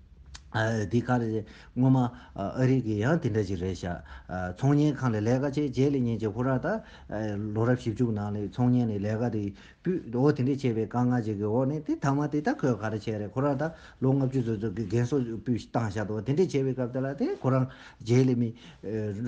འདི་ག་རེད། སྔོན་མ་ཨ་རིག་གི་ཡང་དེ་འདྲ་ཞིག་རེད་བཞག། ཚོང་གཉེར་ཁང་ལས་ལས་ཀ་བྱས་རྗེས་ལས་ཉིན་གཅིག་ཧུར་ར་དང། ལོ་རབས་བཞི་བཅུ་གི་ནང་ལས་ཚོང་གཉེར་ནས་ལས་ཀ་དེ་པུས་འོ་དེ་འདྲས་བྱས་པའི་དཀའ་ངལ་ཅིག་གི་འོག་ནས་དེ་ཐ་མ་དེ་ད་ཁོས་ག་རེ་བྱས་རེད་ཁོ་རང་ད་ལོ་ལྔ་བཅུ་ཙོག་ཙོག་གི་རྒན་གསོ་པུས་བཏང་བཞག་འདུག་དེ་འདྲས་བྱས་པའི་སྐབས་དེ་ལ་དེ་ཁོ་རང་རྗེས་ལས་མི།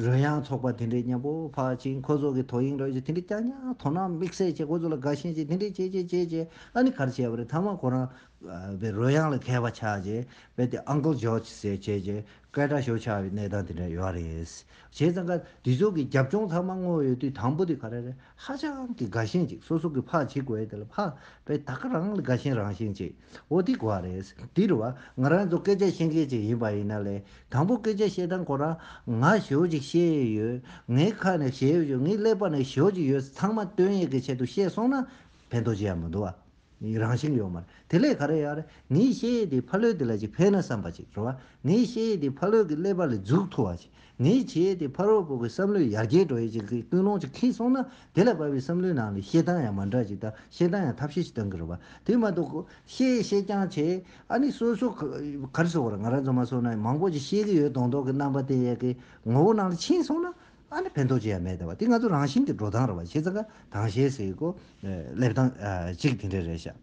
རོལ་དབྱངས་ཚོགས་པ་དེ་འདྲས་མཉམ་པོ་ཕག་ཆིང་ཁོ་ཚོ་གི་དོ་དབྱིངས་རོལ་ཅིག་དེ་འདྲས་ཀྱག་ཀྱག་དོ་སྣང་དམིགས་བསལ་བྱས་ཁོ་ཚོ་ལ་དགའ་ཞེན་ཅིག་དེ་འདྲས་བྱས་བྱས་བྱས་བྱས་ཨ་ནི་ག་རེ་བྱས་པ་རེད་ཐ་མ་ཁོ་རང་པའི་རོལ་དབྱངས་ལ་མཁས་པ་ཆགས་རྗེས་དཔེ་དེ Uncle George ཟེར་བྱས་རྗེས་སྐད་གྲགས་ཤོར་ཆགས་པའི་གནས་སྟངས་དེ་འདྲ་ཡོད་ར་རེད། བྱས་ཙང་ཀ་འདི་ཚོ་གི་རྒྱབ་ལྗོངས་ཚང་མ་དངོས་ཡོད་དུས་དང་པོ་དེ་ག་རེ་རེད་ཧ་ཅང་གི་དགའ་ཞེན་ཅིག་སོ་སོ་གི་ཕག་བྱེད་དགོས་དེ་ལ་ཕག་པས་ད་ག་རང་ལ་དགའ་ཞེན་རང་བཞིན་ཅིག་འོ་དེ་གོ་བ་རེད། དེར་བ་ང་རང་ཚོ་སྐད་ཆ་བཤད་མཁན་ཅིག་ཡིན་པ་ཡིན་ན་ལས་དང་པོ་སྐད་ཆ་བཤད་སྟངས་ཁོ་རང་ང་ཞོར་ཅིག་བཤད་ཡོད་ངའི་ཁ་ནས་བཤད་ཡོད་ངའི་ཀླད་པ་ནས་ཞོར་ཅིག་ཡོད་ཚང་མ་དོན་ཡོད་ཀྱི་ཆེད་དུ་བཤད་སོང་ན་ཕན་ཐོགས་ཅི་ཡང་མི་འདུག་བ། ཡི་རང་བཞིན་ཡོད་མ་རེད། དེ་ལས་ག་རེ་ཡག་རེད། ངའི་བཤད་ཡས་དེའི་ཕ་ལོས་དེ་ལ་ཅིག་ཕན་ན་བསམ་པ་ཅིག་རེད་བ། ངའི་བཤད་ཡས་དེའི་ཕ་ལོས་ཀྱི་ཀླད་པ་ལས་རྫུགས་ཐུ་བ་ཅིག། ངའི་བྱེད་ཡས་དེའི་ཕ་རོལ་པོ་ཀྱི་བསམ་བློའི་ཡར་རྒྱས་འགྲོ་ཡས་ཅིག་གི་ཀུན་སློང་ཅིག་ཁེངས་སོང་ན། དེ་ལ་བབས་པའི་བསམ་བློའི་ནང་ལས་བཤད་སྟངས་ཡང་མ་འདྲ་ཅིག་དང་བཤད་སྟངས་ཡང་ཐབས་ཤེས་ཅིག་གཏང་གི་རེད་བ། དེ་མ་གཏོགས། བཤད་ཡས་བཤད་རྐྱང་བྱས། ཨ་ནི་སོ་སོ། ག་རེ་སོགས་རེད་ང་རང་ཚོ་མ་སོ་ན་མང་པོ་ཅིག་བཤད་ཀྱི་ཡོད་དོང་དོག་གི་རྣམ་པ་དེ་ཡས་ཀྱི་ངོ་བོ་ནང་ལ་ཕྱིན་སོང་ན། ཨ་ནི་ཕན་ཐོགས་ཅི་ཡང་མེད་ཟེར་བ་དེ་ང་ཚོ་རང་བཞིན་གྱི་འགྲོ་སྟངས་རེད་བ་ཤེས་ཚ་ཁ་དྭངས་ཤེས་ཟེར་གོ་སླེབས་སྟངས་གཅིག་དེ་འདྲ་རེད་ཤག་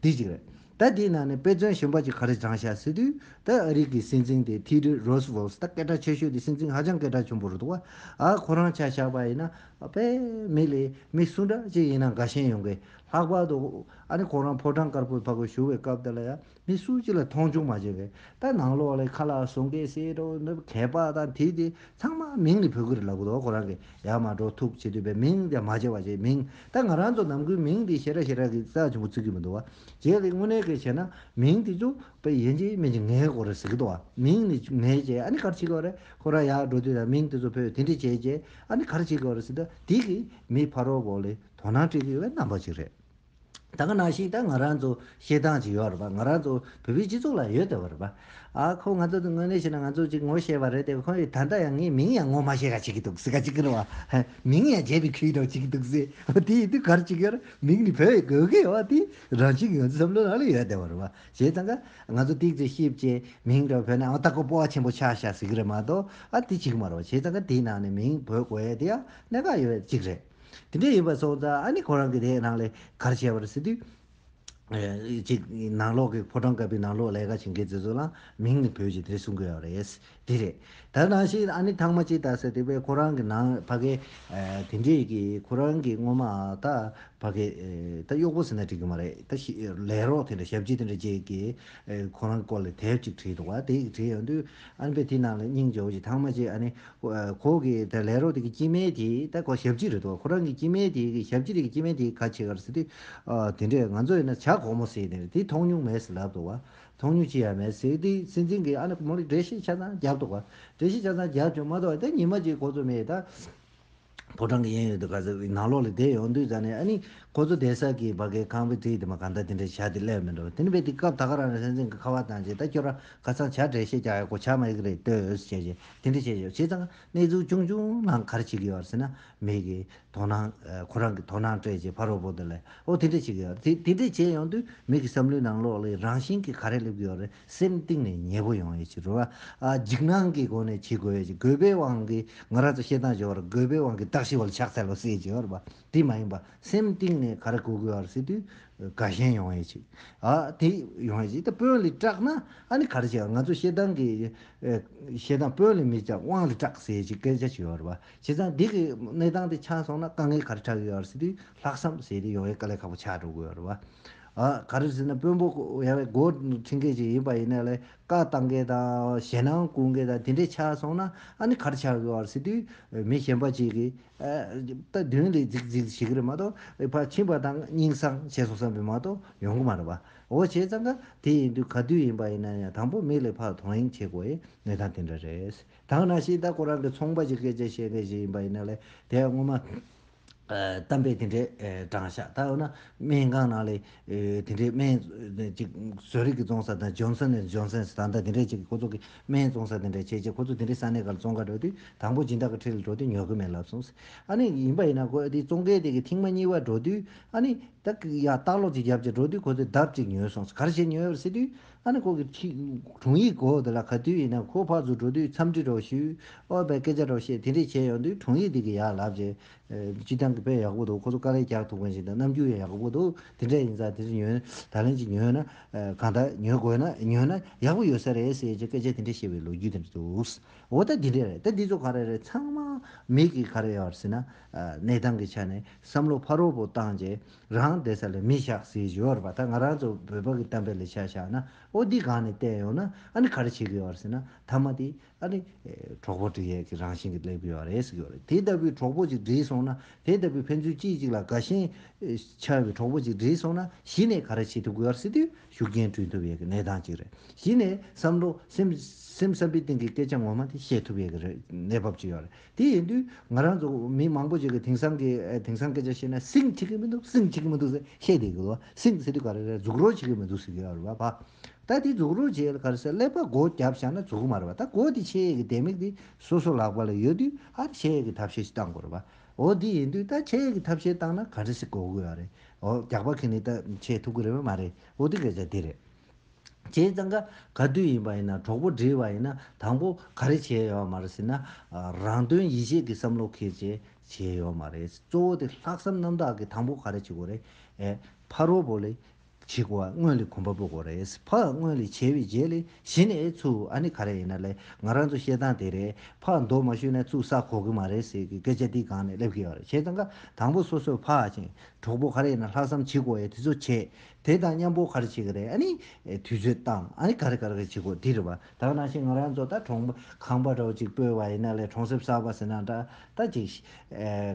དེ་གཅིག་རེད་ད་དེའི་ནང་ནས་དཔེ་མཚོན་གཞོན་པ་གཅིག་ག་རེ་བགྲང་ཤག་ཟེར་དུས་ད་ཨ་རིག་གི་སྲིད་འཛིན་དེ་ཐི་ཏི་རོས་བོལ་སི་ད་སྐད་གྲགས་ཆེ་ཤོས་དེ་སྲིད་འཛིན་ཧ་ཅང་སྐད་གྲགས་ཆེན་པོ་རེད་འདུག་བ་ཨ་ཁོ་རང་ཆ་བཞག་པ་ཡིན་ན་པའི་མི་ལས་མི་སུ་འདྲ་གཅིག་ཡིན་ན་དགའ་ཞེན་ཡོང་གི་ལྷག་པར་དུ་ཨ་ནི་ཁོང་རང་ཕོ་བྲང་དཀར་པོའི་ཕ་གོ་ཞུ་བའི་སྐབས་དེ་ལ་ཡང་མི་སུ་གཅིག་ལ་མཐོང་ཆུང་མ་བྱེད་པའི་ལྟར་ནང་ལོག་ལས་ཁ་ལག་བཟོ་མཁན་བསེ་རོ་ནུབ་གད་པ་དང་དེ་དེ་ཚང་མ་མིང་ནི་བོད་སྐད་རེད་ལབ་གོ་ཁོ་རང་གི་ཡར་མར་འགྲོ་ཐུག་བྱེད་འདོད་པའི་མིང་དེ་མ་བྱེད་བ་བྱེད་མིང་ད་ང་རང་ཚོ་ནམ་གུའི་མིང་དེ་ཞེ་དྲག་ཞེ་དྲག་གི་རྩ་ཆེན་པོ་བརྩི་གི་མི་འདུག་བ་བྱེད་ལས་དངོས་གནས་སྐད་བྱས་ན་མིང་དེ་ཚོ་པའི་ཡན་ཆད་མན་ཆད་ངའི་སྐོར་རེད་ཟེར་གི་འདུག་བ་མིང་ནི་ངའི་བྱས་ཨ་ནི་གར་བྱེད་གི་བ་རེད་ཁོ་རང་ཡར་འགྲོ་དུས་ན་མིང་དེ་ཚོ་བོས་དེ་འདྲས་བྱས་བྱས་ཨ་ནི་གར་བྱེད་གི་བ་རེད་ཟེར་ད་དེ་གི་མི་ཕ་རོགས་བོ་ལས་དོ་སྣང་སྤྲད་གི་ཡོད་པའི་རྣམ་པ་ཅིག་རེད། ད་ག་ནང་ཞིག་ད་ང་རང་ཚོ་ཤེས་སྟངས་ཅིག་ཡོད་རེད་པ་ང་རང་ཚོ་བོད་པའི་སྤྱི་ཚོགས་ལ་ཡོད་བསྡད་པ་རེད་པ། ཨ་ཁོ་ང་ཚོ་དངོས་གནས་ཤེས་ན་ང་ཚོ་ཅིག་ངོ་ཤེས་པ་རེད་དེ་ཁོ་ཡི་ད་ལྟ་ཡང་ངའི་མིང་ཡང་ངོ་མ་ཤེས་ག་ཅིག་གི་འདུག་སེ་ག་ཅིག་གི་རེད་བ། མིང་ཡང་བརྗེད་པའི་ཁུལ་དང་ཅིག་གི་འདུག་སེ། ཨོ་དེ་ཡི་དུས་ག་རེ་ཅིག་ཡོད་རེད་མིང་ནི་བོད་ཡི་གོ་གི་ཡོད་བ་དེ་རང་བཞིན་གྱི་ང་ཚོའི་བསམ་བློའི་ནང་ལ་ཡོད་བསྡད་པ་རེད་བ། བྱས་ཙང་ཀ་ང་ཚོ་སྟེགས་ཚོད་ཤེས་བྱས་མིང་དང་བོད་ནང་ཨོ་ད་ཁོ་སྤོ་བ་ཆེན་པོ་ཆགས་ཤག་ཟེར་གི་རེད་མ་གཏོགས་ཨ་དེ་ཅིག་མ་རེད་བ། བྱས་ཙང་ཀ་དེའི་ནང་ནས་མིང་བོད་གོ་ཡས་དེ་ཡང་གནད་འགག་ཡོད་བསྡད་ཅིག་རེད། དེ་འདྲ་ཡིན་པ་སོང་ཙང་ཨ་ནི་ཁོ་རང་གི་དེའི་ནང་ལས་གར་བྱས་པར་སྲིད་དུས། གཅིག་ནང་ལོག་གི་ཕོ་བྲང་ཀ་པའི་ནང་ལོག་ལས་ཀ་བྱེད་མཁན་དེ་ཚོ་ལའང་མིང་ནི་བོད་ཀྱི་དེ་གསུང་དགོས་ཡག་རེད། དེ་རེད། ད་ནང་བཞིན་ཨ་ནི་ཐང་མ་ཅིག་ད་ཟེར་དེ་བས་ཁོ་རང་གི་ནང་ཕ་གས་དེ་འདྲས་ཀྱི་ཁོ་རང་གི་སྔོན་མ་ད་ཕ་གས་ད་གཡོག་པོ་ཟེར་ན་འགྲིག་གི་མ་རེད་ད་ལས་རོགས་དེ་འདྲ་ཞབས་ཕྱི་དེ་འདྲ་བྱས་ཀྱི་ཁོ་རང་སྐོར་ལས་དེབ་ཅིག་བྲིས་འདུག་བ་དེ་ཡིག་བྲིས་ཡོང་དུས་ཨ་ནི་པས་དེའི་ནང་ལས་སྙིང་རྗེ་བོ་ཞིག་ཐང་མ་ཅིག་ཨ་ནི་ཁོ་གི་ད་ལས་རོགས་དེ་གི་སྐྱེས་དམན་དེ་ད་ཁོ་ཞབས་ཕྱི་རེད་དོ་ཁོ་རང་གི་སྐྱེས་དམན་དེ་གི་ཞབས་ཕྱི་རེད་གི་སྐྱེས་དམན་དེ་ག་ཆེ་གར་སེ་ཏེ་དེ་འདྲས་ང་ཚོ་ཡིན་ན་བྱ་གོག་མོ་སེ་ནེ་རེད་དེ་མཐོང་མྱོང་མེད་སེ་ལབ་དོ་བ་མཐོང་མྱོང་ཅི་ཡང་མེད་སེ་དེ་སྲིད་འཛིན་གི་ཨ་ནེ་མོ་རེ་འགྲེལ་བཤད་ཆ་ཚང་རྒྱབ་དོ་བ་འགྲེལ་བཤད་ཆ་ཚང་རྒྱབ་བྱུང་མ་ཏོག་ད་ཉི་མ་གཅིག་གོ་ཚོད་མེད་ད། ཕོ་བྲང་གི་གཡས་གཡོན་དུ་ག་ཟེ་ནང་ལོགས་ལ་བསྡད་ཡོང་དུས་ཙང་ནས་ཨ་ནི། ཁོ་ཚོ་བསྡད་ས་ཀྱི་བ་གའི་ཁང་བའི་བྲིས་དེ་མ་གང་ལྟ་དེ་འདྲས་བྱ་དེ་སླད་མི་འགྲོ་བ་དེ་ནི་བས་དེ་སྐབས་ད་ག་རང་རང་སེམས་སེམས་ཀྱི་ཁ་བ་དང་བཅས་ད་ཁྱོད་རང་ག་ཚང་བྱ་བྲལ་ཤེས་ཀྱང་ཡག་གོ་བྱ་མ་ཡག་རེད་ལྟོས་ཨོས་བྱས་བྱས་དེ་འདྲས་བྱས་ཆོག་བྱས་ཙང་གནས་ཚུལ་ཆུང་ཆུང་ནང་ག་རེ་བྱེད་ཀྱི་ཡོད་ཟེར་ན་མེད་ཀི། དོ་སྣང། ཁོ་རང་གི་དོ་སྣང་སྤྲད་རྗེས་ཕ་རོལ་པོ་དེ་ལས་ཨོ་དེ་འདྲས་བྱེད་ཀྱི་ཡོད་རེད་དེ་འདྲས་བྱས་ཡོང་དུས་མིག་གི་བསམ་བློའི་ནང་ལོགས་ལ་རང་བཞིན་གྱིས་ག་རེ་སླེབས་ཀྱི་ཡོད་རེད་སེམས་གཏིང་ནས་མཉེས་པོ་ཡོང་བའི་ཕྱིར་རོ། འཇིགས་སྣང་གི་སྒོ་ནས་བྱེད་དགོས་པའི་ཕྱིར་རྒོད་པོའི་དབང་གིས་ང་ར་ཙོ་ཤེས་སྟངས་སྦྱོར་བར་རྒོད་པོའི་དབང་གིས་བདག་ཤི་བལ་ཕྱག་འཚལ་ལོ་སེ་སྦྱོར་བ་དེ་མ་ཡིན་པ་སེམས་གཏིང་ནས་ག་རེ་གོ་དགོས་བར་སེ་དུས་ག་གཞན་ཡོང་བའི་ཕྱིར། དེ་ཡོང་བའི་ཕྱིར་དེ་དཔོན་ལས་སྐྲག་ན་ཨ་ནི་ག་རེ་བྱེད་ང་ཚོ་ཤེས་སྟངས་ཀྱི་ཤེས་སྟངས་དཔོན་ལས་མི་སྐྲག་དབང་ལས་སྐྲག་སེ་ཞེས་སྐད་ཆ་བྱེད་བར་བ་བྱེད་ཙང་བདེ་གི་གནས་སྟངས་དེ་ཆགས་སོང་ན་དཀའ་ངལ་ག་རེ་ཕྲད་ཡོད་བར་སེ་དུས་ལྷག་བསམ་ཟེར་དེ་ཡོང་བའི་དཀའ་ལས་ཁག་པོ་ཆགས་འགྲོ་དགོས་བར་བ། ག་རེ་ཟེར་ན་དཔོན་པོ་ཡང་སྒོ་ཕྱིན་མཁན་ཞིག་ཡིན་པ་ཡིན་ན་ལེ་བཀའ་བཏང་མཁན་དང་ཞེད་སྣང་བསྐུར་མཁན་དང་དེ་འདྲས་ཆགས་སོང་ན་ཨ་ནི་གར་ཆགས་དགོས་བར་སྲིད་དུས་མི་གཞན་པ་ཅིག་གིས་ད་དུས་ལས་རྫིག་རྫིག་བྱེད་ཀྱི་རེད་མ་གཏོགས་ཕར་ཕྱིན་པ་དང་སྙིང་བསྲང་བྱས་སོང་བསམ་པས་མ་གཏོགས་ཡོང་གི་མ་རེད་པ་འོ་བྱས་ཙང་ཀ་དེ་ཡིན་དུས་ག་དུས་ཡིན་པ་ཡིན་ན་ཡང་དང་པོ་མིག་ལས་ཕར་དོགས་ཡིན་བྱེད་དགོས་ཡའི་གནས་སྟངས་དེ་འདྲ་རེད་དང་ན་ཤིང་རྟ་ཁོ་རང་གི་ཚོང་པ་ཞིག་སྐད་ཆ་བཤད་མཁན་ཞིག་ཡིན་པ་ཡིན་ན་ལེ་དེ་ཡང་སྔོན་མ། གཏམ་དཔེ་དེ་འདྲའི་དྲང་ཤ་ད་འོ་ན་སྨན་ཁང་ནང་ལས་དེ་འདྲའི་སྨན་ཅིག་བཟོ་རིག་གི་བཙོང་ས་དང་ཇོན་སན་ཨན་ཇོན་སན་ད་ལྟ་དེ་འདྲའི་ཅིག་ཁོ་ཚོ་གི་སྨན་བཙོང་ས་དེ་འདྲ་བྱས་རྗེས་ཁོ་ཚོ་དེ་འདྲའི་ས་གནས་ག་ལ་བཙོང་ག་འགྲོ་དུས་དང་པོ་སྦྱིན་བདག་གི་ཁྲི་ལ་འགྲོ་དུས་ཉོ་གི་མེད་ལབ་སོང་ཟེར། ཨ་ནི་ཡིན་པ་ཡིན་ན་ཁོ་དེ་བཙོང་མཁན་དེ་གི་ཐེངས་མ་གཉིས་པ་འགྲོ་དུས་ཨ་ནི་ད་ཡང་ལྟག་ལོག་ཅིག་བརྒྱབ་རྗེས་འགྲོ་དུས་ཁོ་ཚོས་ལྡབ་ཅིག་ཉོས་སོང་ཟེར་གར་བཞེས་ཉོས་པར་སྲིད་དུས་ཨ་ནི་ཁོ་གི་དྲུང་ཡིག་གོ་དེ་ལ་ག་དུས་ཡིན་ན་ཁོ་ཕག་ཚུར་འགྲོ་དུས་འཚམས་འདྲི་རོགས་ཞུ་ཨོ་བའི་སྐད་ཆ་རོགས་བཤད་དེ་འདྲས་བྱས་ཡོང་དུས་དྲུང་ཡིག་འདི་གི་ཡག་ལབ་ཅེས། སྤྱི་བཏང་གི་དཔེ་ཡག་པོ་འདུག་ཁོ་ཚོ་དཀའ་ལས་རྒྱག་ཐུབ་མཁན་ཞིག་དང་རྣམ་འགྱུར་ཡང་ཡག་པོ་འདུག་དེ་འདྲས་ཡིན་ཙང་དེ་ཚོ་ཉོན་ད་ལན་གྱི་ཉོན་ན་གང་ལྟ་ཉོན་དགོས་ན་ཉོན་ན་ཡག་པོ་ཡོད་ས་རེད་ཟེར་ཅེས་སྐད་ཆ་དེ་འདྲས་བཤད་པའི་ལོ་རྒྱུས་དེ་འདྲས་འདུག་འོ་ད་འདི་འདྲས་རེད་ད་འདི་ཚོ་ག་རེ་རེད་ཚང་མ་མིག་གིས་ག་རེ་ཡོད་ཟེར་ན། གནས་སྟངས་ཀྱི་ཆ་ནས་བསམ་བློ་ཕར་རོ་བོ་བཏང་རྗེས་རང་བདེ་ས་ལ་མི་བཞག་ཟེར་གྱི་ཡོད་རེད་པ་ད་ང་རང་ཚོ་བོད་པ་གི་གཏམ་དཔེ་ལ་ཆ་བཞག་ན་ཨོ་འདི་གང་ནས་བལྟས་ཡོང་ན་ཨ་ནི་ག་རེ་བྱེད་གི་ཡོད་རེད་ཟེར་ན་ཐ་མ་དེ་ཨ་ནི་གྲོགས་པོ་འདྲེ་ཡས་ཀྱི་རང་བཞིན་གྱི་སླེབས་གི་ཡོད་རེད་ཟེར་གི་ཡོད་རེད་དེ་ལྟ་བུའི་གྲོགས་པོ་ཅིག་འདྲེས་སོང་ན་དེ་ལྟ་བུའི་ཕན་ཚུན་གཅིག་གཅིག་ལ་དགའ་ཞེན་ཆགས་ཡོད་པའི་གྲོགས་པོ་ཅིག་འདྲེས་སོང་ན་གཞི་ནས་ག་རེ་བྱེད་ཐུབ་གི་ཡོད་རེད་ཟེར་དུས་ཤུགས་རྐྱེན་བསྐྲུན་ཐུབ་ཡས་ཀྱི་གནས་སྟངས་ཅིག་རེད་གཞི་ནས་བསམ་བློ་སེམས་བསམ་པའི་སྟེང་གི་སྐད་ཆ་ངོ་མ་དེ་བཤད་ཐུབ་ཡས་ཀྱི་རེད་གནས་བབ་ཅིག་ཡོད་རེད། དེ་ཡིན་དུས་ང་རང་ཚོ་མི་མང་པོ་ཞིག་གིས་དེང་སང་གི་དེང་སང་སྐད་ཆ་བཤད་ན་སིང་བྱེད་ཀྱི་མི་འདུག་སིང་བྱེད་ཀྱི་མི་འདུག་ཟེར་བཤད་བསྡད་ཀྱི་འདུག་སིང་ཟེར་དུས་ག་རེ་རེད་རྫུག་རོགས་བྱེད་ཀྱི་མི་འདུག་ཟེར་གྱི་ཡོད་རེད་བ། ད་དེ་རྫུག་རོགས་བྱེད་ག་རེ་ཟེར་ཀླད་པ་སྒོ་བརྒྱབ་བཞག་ན་རྫུག་མ་རེད་བ་ད་སྒོ་དེ་ཕྱེ་ཡས་ཀྱི་ལྡེ་མིག་དེ་སོ་སོ་ལག་པ་ལ་ཡོད་དུས་ཨ་རེ་ཕྱེ་ཡས་ཀྱི་ཐབས་ཤེས་ཤིག་བཏང་དགོས་རེད་བ། འོ་དེ་ཡིན་དུས་ད་ཕྱེ་ཡས་ཀྱི་ཐབས་ཤེས་བཏང་ན་ག་རེ་ཞིག་གོ་དགོས་ཡ་རེད་འོ་རྒྱག་པ་གིས་ནི་ད་ཕྱེ་ཐུབ་ཀྱི་རེད་བ་མ་རེད་འོ་དེ་སྐད་ཆ་དེ་རེད། བྱས་ཙང་ག་ག་དུས་ཡིན་པ་ཡིན་ན་གྲོགས་པོ་འདྲིས་བ་ཡིན་ན་དང་པོ་ག་རེ་བྱས་ཡོད་མ་རེད་ཟེར་ན། རང་དོན་ཡིད་བྱེད་ཀྱི་བསམ་བློ་འཁེལ་བྱས་བྱས་ཡོད་མ་རེད། གཙོ་བོ་དེ་ལྷག་བསམ་རྣམ་དག་གིས་དང་པོ་ག་རེ་བྱེད་དགོས་རེད། ཕ་རོལ་པོ་ལས་བྱེད་དགོས་བ་སྔོན་ལས་གོམ་པ་སྤོ་དགོས་རེད། ཕ་སྔོན་ལས་བྱས་པའི་རྗེས་ལས་གཞི་ནས་ཚུ་ཨ་ནི་ག་རེ་ཡིན་ན་ལས་ང་རང་ཚོ་བཤད་སྟངས་དེ་རེད་ཕ་མདོ་མ་བཞུད་ན་ཚུ་བསགས་གོ་གི་མ་རེད་ཟེར་གི་སྐད་ཆ་འདི་གང་ནས་སླེབས་གི་ཡོད་རེད་བྱས་ཙང་ག་དང་པོ་སོ་སོས་ཕ་ཞིང་གྲོགས་པོ་ག་རེ་ཡིན་ན་ལྷག་བསམ་བྱེད་དགོས་ཡོད་དེ་ཚོ་བྱས་དེ་དང་མཉམ་པོ་གར་བྱེད་ཀྱི་རེད་ཨ་ནི། དུས་ཚོད་བཏང་ཨ་ནི་གར་གར་གྱི་བྱེད་དགོས་དེ་རེད་བ། ད་གནང་ཤིག་ང་རང་ཚོ་ད་གྲོང་ཁང་པ་རོ་ཅིག་སྤོས་བ་ཡིན་ན་ལས་གྲོང་གསེབ་གསར་བ་ཟེར་ན་འདྲ་ད་ཅིག།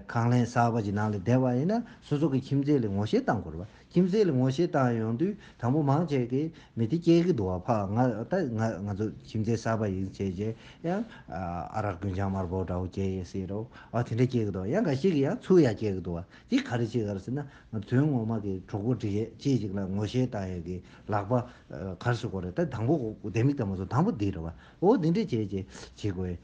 ཁང་ལན་གསར་བ་ཅིག་ནང་ལ་བསྡད་བ་ཡིན་ན་སོ་སོ་གི་ཁྱིམ་མཚེས་ལ་ངོ་ཤེས་བཏང་དགོས་རེད་བ། ཁྱིམ་མཚེས་ལ་ངོ་ཤེས་བཏང་ཡོང་དུས་དང་པོ་མང་ཆེ་གི་མི་དེ་སྐྱེས་ཀྱི་འདུག་བ་ཕ་ང་ད་ང་ང་ཚོ་ཁྱིམ་མཚེས་གསར་བ་ཡིན་བྱས་རྗེས་ཡང། ཨ་རག་རྒུན་ཆང་དམར་པོ་འདྲ་བོ་སྐྱེས་ཡོད་སྲིད་རོ། བ་དེ་འདྲ་སྐྱེས་ཀྱི་འདུག་ཡང་ག་ཤེད་ཀྱི་ཡང་ཚུར་ཡང་སྐྱེས་ཀྱི་འདུག་བ་དེ་ག་རེ་བྱེད་ག་རེ་ཟེར་ན། དོན་ངོ་མ་གི་གྲོགས་པོ་འདྲི་ཡས་ཅི་ཞིག་ལ་ངོ་ཤེས་བཏང་ཡས་གི་ལག་པ་གར་སུ་གོ་རེད་ད་དང་པོ་ལྡེ་མིག་ལྟ་མོ་སུ་དང་པོ་འདི་རེད་བ་འོ་འདི་འདྲས་བྱས་བྱས་བྱས་དགོས་ཡས་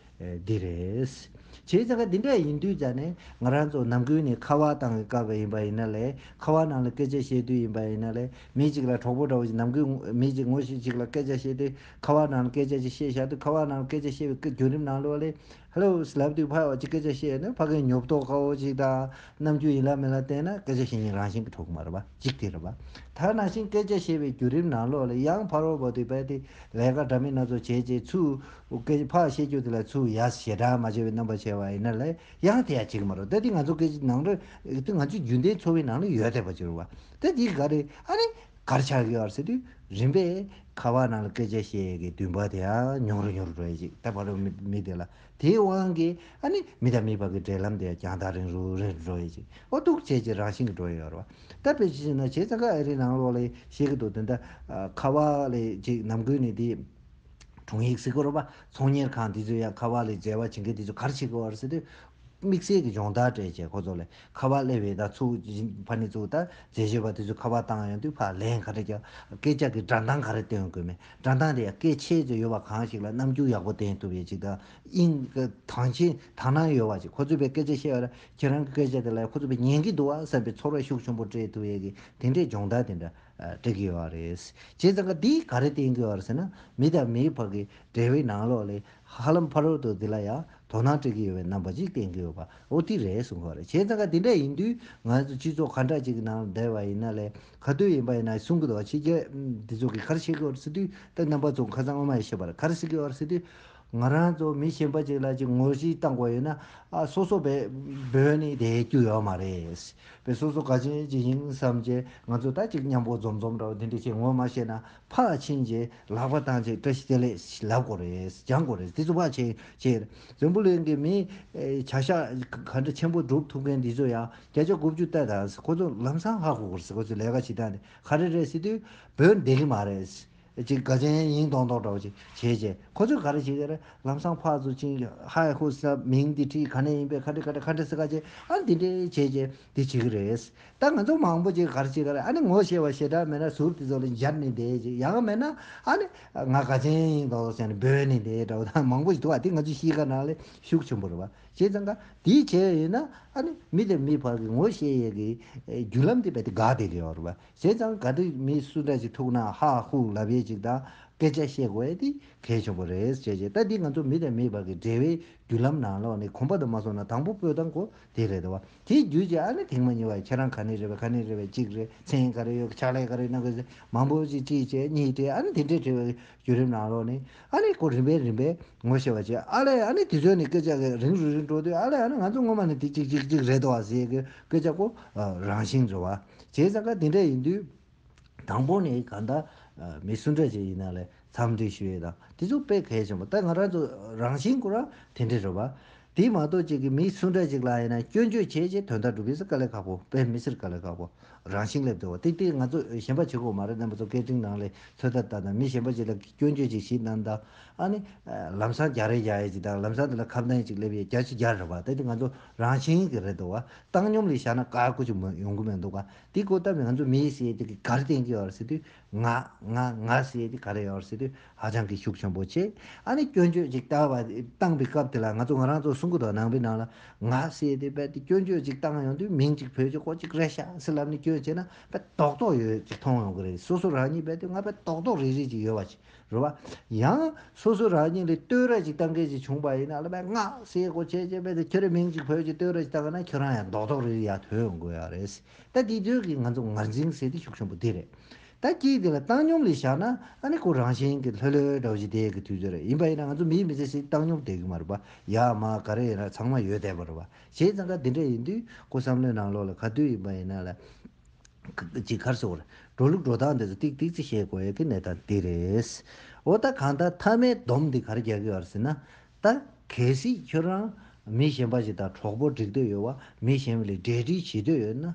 འདི་རེད། བྱས་ཙང་ཁ་འདི་འདྲས་ཡིན་དུས་ཙང་ནས་ང་རང་ཚོ་ནམ་ཀུན་ནས་ཁ་བ་བཏང་གི་དཀར་བ་ཡིན་པ་ཡིན་ན་ལས་ཁ་བ་ནང་ལ་སྐད་ཆ་བཤད་དུས་ཡིན་པ་ཡིན་ན་ལས་མི་ཅིག་ལ་གྲོགས་པོ་འདྲ་བོ་ཞིག་ནམ་ཀུན་མི་ཅིག་ངོ་ཤེས་ཅིག་ལ་སྐད་ཆ་བཤད་དུས་ཁ་བ་ནང་ལ་སྐད་ཆ་ཅིག་བཤད་བཞག་དུས་ཁ་བ་ནང་ལ་སྐད་ཆ་བཤད་བའི་རྒྱུན་རིམ་ནང་ལོ་ལས་ལྷོས་ལབ་དུས་ཕ་འོ་ཅི་སྐད་ཆ་བཤད་ནས་ཕ་གི་ཉོབ་རྟོགས་དཀའ་བོ་ཅིག་དང་རྣམ་འགྱུར་ཡིན་ལ་མིན་ལ་བལྟས་ན་སྐད་ཆ་བཤད་ཉིན་རང་བཞིན་གྱི་ཐོག་མར་བ་གཅིག་དེ་རེད་བ། ད་ནང་བཞིན་སྐད་ཆ་བཤད་པའི་བརྒྱུད་རིམ་ནང་ལོགས་ལ་ཡང་ཕར་བོར་བོར་དུས་བལ་དེ་ལས་ཀ་འདྲ་མིན་སྣ་ཚོགས་བྱེད་ཅེས་ཚུ་སྐད་ཆ་ཕ་བཤད་རྒྱུ་དེ་ལ་ཚུ་ཡ་ཞེ་དྲག་མ་བྱས་པའི་རྣམ་པ་བྱས་བ་ཡིན་ན་ལས་ཡང་དེ་ཡང་བྱེད་ཀྱི་མ་རོག་ད་དེ་ང་ཚོ་སྐད་ཆའི་ནང་དུ་ང་ཚོའི་རྒྱུན་ལྡན་འཚོ་བའི་ནང་ལ་ཡོད་བསྡད་པ་ཅི་རུང་བ། ད་དེ་ག་རེད་ཨ་རེ། གར་ཆག་གི་བར་སྲིད་དུས་རིམ་པས་ཁ་བ་ནང་ལ་སྐད་ཆ་བཤད་ཡས་ཀྱི་འདུན་པ་དེ་ཡང་ཉུང་རུ་ཉུང་རུ་འགྲོ་ཡས་ཅིག་ད་བར་རུ་མི་དེ་ལ་དེའི་དབང་གིས་ཨ་ནི་མི་དང་མི་བར་གྱི་འབྲེལ་ལམ་དེ་ཡང་རྒྱང་ཐག་རིང་རུ་རིང་རུ་འགྲོ་ཡས་ཅིག་ཨོ་ཐུག་ཆེ་ཆེ་རང་བཞིན་གྱི་འགྲོ་ཡས་ཡོད་རེད་བ་ད་བེ་ཅི་ཞིག་ན་བྱས་ཙང་ཁ་ཨ་རིའི་ནང་ལོག་ལས་བཤད་ཀྱི་འདུག་དེ་འདྲ་ཁ་བ་ལས་ཅིག་ནམ་དགོས་ནས་དེ་དྲུང་ཡིག་གཟིགས་དགོས་རོགས་པ་ཚོང་གཉེར་ཁང་འདི་ཚོས་ཡང་ཁ་བ་ལས་འཇལ་བ་བྱེད་མཁན་དེ་ཚོ་གར་ཆེ་གི་བར་སྲིད་དུས་དམིགས་བསལ་གྱི་སྦྱོང་བརྡར་སྤྲད་རྗེས་ཁོ་ཚོ་ལས་ཁ་བ་གླེ་བའི་ད་ཚུགས། ཕ་ནི་ཚུགས་ད་ཛེ་བཞེས་པ་དེ་ཚོས་ཁ་བ་བཏང་ཡོང་དུས་ཕ་ལན་ག་རེ་རྒྱག། སྐད་ཆ་གི་སྒྲ་མདངས་ག་རེ་སྟོན་དགོས་མིན་སྒྲ་མདངས་དེ་ཡང་སྐད་ཆའི་ཚོད་ཡོད་པ་གང་ཞིག་ལ་རྣམ་འགྱུར་ཡག་པོ་ལྡན་ཐུབ་ཡོད་ཅིག་དང་དབྱིངས། དང་ཆེན་དང་ནང་ཡོད་བ་ཅིག་ཁོ་ཚོས་པའི་སྐད་ཆ་བཤད་པ་ལ་ཁྱེད་རང་གི་སྐད་ཆ་དེ་ལ་ཡང་ཁོ་ཚོས་པའི་ཉན་གི་འདུག་ཨང་བསམ་པའི་ཚོར་བ་ཤུགས་ཆུང་པོ་སྤྲད་ཐུབ་ཡོད་ཀི་དེ་འདྲའི་སྦྱོང་བརྡར་དེ་འདྲ་སྤྲད་གི་ཡོད་རེད། བྱས་ཙང་ཀ་དེས་ག་རེ་བསྟན་གི་ཡོད་རེད་ཟེར་ན་མི་དང་མིའི་བར་གྱི་འབྲེལ་བའི་ནང་ལོགས་ལས་ཧ་ལམ་ཕ་རོལ་ཏུ་འདི་ལ་ཡང་དོ་སྣང་སྤྲད་ཀྱི་ཡོད་པའི་རྣམ་པ་ཅིག་བསྟན་གྱི་ཡོད་པ་འོ་དེ་རེད་གསུངས་པ་རེད་བྱས་ཙང་ཁ་དེ་འདྲ་ཡིན་དུས་ང་ཚོ་སྤྱི་ཚོགས་ག་འདྲ་ཅིག་གི་ནང་ལ་བསྡད་པ་ཡིན་ན་ལས་ག་དུས་ཡིན་པ་ཡིན་ན་གསུང་གི་འདུག་ཕྱི་རྒྱལ་འདི་ཚོ་གི་ཁར་ཤི་ཀི་ཨོར་སི་ཏུས་ཏེ་རྣམ་པ་ཚོ་ཁ་ཚང་ངོ་མ་ཡིན་ཤེས་པར་ཁར་སི་ཀི་ཨོར་སི་ཏུས་ང་རང་ཚོ་མི་གཞན་པ་ཅིག་ལ་ཅིག་ངོ་ཤེས་བཏང་དགོས་ཡོད་ན་ཨ་སོ་སོ་བས་བོད་ནི་དེའི་རྒྱུ་ཡོད་མ་རེད་བས་སོ་སོ་ག་ཅི་ཅི་ཡིན་བསམ་བྱས་ང་ཚོ་ད་ཅིག་མཉམ་པོ་འཛོམས་འཛོམས་འདྲ་བ་དེ་འདྲ་ཞིག་ངོ་མ་ཤེས་ན་ཕག་ཕྱིན་རྗེས་ལག་པ་བཏང་རྗེས་བཀྲ་ཤིས་བདེ་ལེགས་ལབ་དགོས་རེད་སྦྱང་དགོས་རེད་དེ་ཚོ་ཕག་ཕྱིན་རྗེས་རེད་འཛམ་བུ་གླིང་གི་མིའི་བྱ་བཞག་ག་འདྲ་ཆེན་པོ་སྒྲུབ་ཐུབ་མཁན་འདི་ཚོ་ཡང་བརྒྱ་ཆ་དགུ་བཅུ་གཏད་ད་ཁོ་ཚོ་ལམ་སང་ཧ་གོ་དགོས་རེད་ཁོ་ཚོ་ལས་ཀ་བྱེད་སྟངས་དེ་ག་རེ་རེད་ཟེར་དུས་བོད་འདེད་གི་མ་རེད་ཅིག་དགའ་ཆེན་ཡིན་མདོག་མདོག་འདྲ་བོ་ཅིག་བྱས་རྗེས་ཁོ་ཚོས་ག་རེ་བྱེད་ཀྱི་རེད་ལམ་སང་ཕག་ཚོ་ཕྱིན་རྗེས་ཧ་གོ་ཟེར་ན་མིང་འདི་བྲིས་ག་ནས་ཡིན་པས་ག་འདྲ་ག་འདྲ་ག་འདྲ་ཟེར་ག་རྗེས་ཨ་འདི་འདྲ་བྱས་རྗེས་དེ་བྱེད་ཀྱི་རེད། ད་ང་ཚོ་མང་པོ་ཅིག་གར་བྱེད་ཀྱི་རེད་ཨ་ནི་ངོ་ཤེས་པ་ཞེ་དྲག་མེད་ན་ཟུར་དེ་ཚོ་ལ་འབྱར་ནས་བསྡད་ཅིག་ཡང་མེད་ན་ཨ་ནི་ང་དགའ་ཅན་ཡིན་དོགས་དོགས་བྱས་ནས་སྦོས་ནས་བསྡད་འདྲ་བོ་ད་མང་པོ་ཞིག་འདུག་ཨ་དེ་ང་ཚོའི་གཤིས་ཀ་ནང་ལས་ཤུགས་ཆེན་པོ་རེད་བ་བྱས་ཙང་ཀ་དེ་བྱས་ཡོད་ན་ཨ་ནི་མི་དང་མི་བར་གྱི་ངོ་ཤེས་ཡས་ཀྱི་རྒྱུ་ལམ་དེ་རྦད་དེ་འགག་བསྡད་ཀྱི་ཡོད་རེད་བ་བྱས་ཙང་ཀ་འདི་མི་སུ་འདྲ་ཞིག་ཐུག་ན་ཧ་ཧུ་ལབ་ཡས་ཅིག་དང་སྐད་ཆ་བཤད་དགོས་ཡས་དེ་གལ་ཆེན་པོ་རེད་བྱས་བྱས་ད་འདི་ང་ཚོ་མི་དང་མི་བར་གྱི་འབྲེལ་བའི་རྒྱུ་ལམ་ནང་ལོགས་ནས་གོམ་པ་དུ་མ་སོང་ན་དང་པོ་སྤོས་དང་གོ་དེ་རེད་བ། དེའི་རྒྱུ་ཅི་ཨ་ནི་དེང་མ་ཉིད་བ་ཁྱེད་རང་ག་ནས་རེད་བ་ག་ནས་རེད་བ་གཅིག་རེད་མཚན་ག་རེ་ཡོད་ཕྱག་ལས་ག་རེ་གནང་དགོས་ཟེར་མང་པོ་ཅིག་གཅིག་བྱས་གཉིས་བྱས་ཨ་ནི་དེ་འདྲའི་དྲི་བའི་བརྒྱུད་རིམ་ནང་ལོགས་ནས་ཨ་ནི་སྐོར་རིམ་པས་རིམ་པས་ངོ་ཤེས་བ་བྱས་ཨ་ལས་ཨ་ནི་དེ་ཚོའི་ནི་སྐད་ཆ་གི་རིང་རུ་རིང་འགྲོ་དུས་ཨ་ལས་ཨ་ནི་ང་ཚོ་སྔོན་མ་ནི་དེ་གཅིག་གཅིག་གཅིག་རེད་དོ་བ་ཟེར་གི་སྐད་ཆ་སྐོར་རང་བཞིན་རེད་བ། བྱས་ཙང་ཀ་དེ་འདྲ་ཡིན་དུས། དང་པོ་ནི་གང་ལྟར་མི་སུ་འདྲ་ཞིག་ཡིན་ན་ལས་འཚམས་འདྲི་ཞུ་ཡི་དང་དེ་ཚོ་དཔེ་གལ་ཆེན་པོ་ད་ང་རང་ཚོ་རང་བཞིན་ཀུ་རང་དེ་འདྲ་རེད་བ། དེ་མ་གཏོགས་ཅིག་གིས་མི་སུ་འདྲ་ཞིག་ལ་ཡིན་ན་སྐྱོན་བརྗོད་བྱས་རྗེས་དོན་དག་སྒྲུབ་ཡས་སུ་དཀའ་ལས་ཁག་པོ་དཔེ་མི་སེར་དཀའ་ལས་ཁག་པོ་རང་བཞིན་སླེབས་འདུག་བ་དེ་དེ་ང་ཚོ་གཞན་པ་བྱེད་ཁོག་མ་རེད་རྣམ་པ་ཚོ་སྐད་འཕྲིན་ནང་ལས་ཚོད་ལྟ་ལྟ་དང་མི་གཞན་པ་ཞིག་ལ་སྐྱོན་བརྗོད་ཅིག་བྱེད་གནང་དང་ཨ་ནི་ལམ་སང་རྒྱག་རེས་བྱ་ཡས་ཅིག་དང་ལམ་སང་དེ་ལ་ཁ་བརྡ་ཡས་ཅིག་སླེབས་ཡས་རྒྱག་ཅིག་རྒྱག་རེད་བ་དེ་དེ་ང་ཚོ་རང་བཞིན་གྱི་རེད་འདུག་བ་བཏང་སྙོམས་ལས་བཞག་ན་དཀའ་དགོས་ཅིག་མི་ཡོང་གི་མེད་འདུག་བ་དེ་གོ་བལྟ་བས་ང་ཚོ་མི་ཡི་སའི་དེ་གི་གར་སྟེང་གི་ཡོར་སེ་དུས་ང་ང་ང་སའི་དེ་གར་ཡོར་སེ་དུས་ཧ་ཅང་གི་ཤུགས་ཆེན་པོ་ཆེ་ཨ་ནི་སྐྱོན་བརྗོད་ཅིག་བལྟ་བ་བཏང་པའི་སྐབས་དེ་ལ་ང་ཚོ་ང་རང་ཚོ་གསུང་གི་དོ་སྣང་བའི་ནང་ལ་ང་སའི་དེ་བལྟ་དེ་སྐྱོན་བརྗོད་ཅིག་བཏང་ཡོང་དུས་མིང་ཅིག་བོད་ཀྱི་སྐོར་ཅིག་རེད་ཤག་སེ་ལབ་ནས་སྐྱོན་བྱས་ན་བལྟ་རྟོག་རྟོག་ཡོད་ཅིག་མཐོང་ཡོང་གི་རེད་སོ་སོ་རང་ཉིད་བལྟ་དུས་ང་བལྟ་རྟོག་རྟོག་རིག་རིག་ཅིག་ཡོད་བ་ཅིག། རེད་བ། ཡང། སོ་སོ་རང་ཉིད་ལས་བསྟོད་ར་ཅིག་བཏང་མཁན་ཞིག་བྱུང་བ་ཡིན་ན་ལ་བས་ངག་ཞེས་གོ་ཆས་ཅན་པས་ཁྱོད་རའི་མིང་ཅིག་བོས་ཀྱི་བསྟོད་ར་ཅིག་བཏང་གིན་ན་ཁྱོད་རང་ཡང་རྡོག་རྡོག་རེ་རེ་ཡར་ཐོན་དགོས་ཡག་རེད། ད་དེ་དུས་ཀྱི་ང་ཚོ་ངར་འཛིང་ཟེར་དེ་ཤུགས་ཆེན་པོ་དེ་རེད། ད་ཁྱེད་དེ་ལ་བཏང་སྙོམས་ལས་བཞག་ན་ཨ་ནི་ཁོ་རང་བཞིན་གྱི་ལྷོད་ལྷོད་དྲ་བ་ཞིག་བསྡད་ཀྱི་དུས་ཚོད་རེད་ཡིན་པ་ཡིན་ན་ང་ཚོ་མིའི་མི་ཚེ་ཞིག་བཏང་སྙོམས་བསྡད་ཀྱི་མ་རེད་བ། ཡར་མར་ག་རེ་ཡིན་ར་ཚང་མ་ཡོད་བསྡད་པ་རེད་བ། བྱས་ཙང་ཁ་འདི་འདྲ་ཡིན་དུས་ཁོ་བསམ་བློའི་ནང་ལོགས་ལ་ག་དུས་ཡིན་པ་ཡིན་ན་ལ། ཇི་གར་སོང་བར་འགྲོ་ལུགས་འགྲོ་སྟངས་འདི་ཚོ་ཏིག་ཏིག་ཅིག་ཤེས་དགོས་ཀྱི་གནད་དང་འདི་རེད། འོ་ད་གང་ལྟར་མཐའ་མའི་སྡོམ་འདི་གར་རྒྱག་གི་ཡོད་ཟེར་ན། ད་གལ་སྲིད་ཁྱོད་རང་མི་གཞན་པ་ཞིག་དང་གྲོགས་པོ་སྒྲིག་འདོད་ཡོད་བ་མི་གཞན་པ་ལས་འབྲེལ་འདྲིས་བྱེད་འདོད་ཡོད་ན།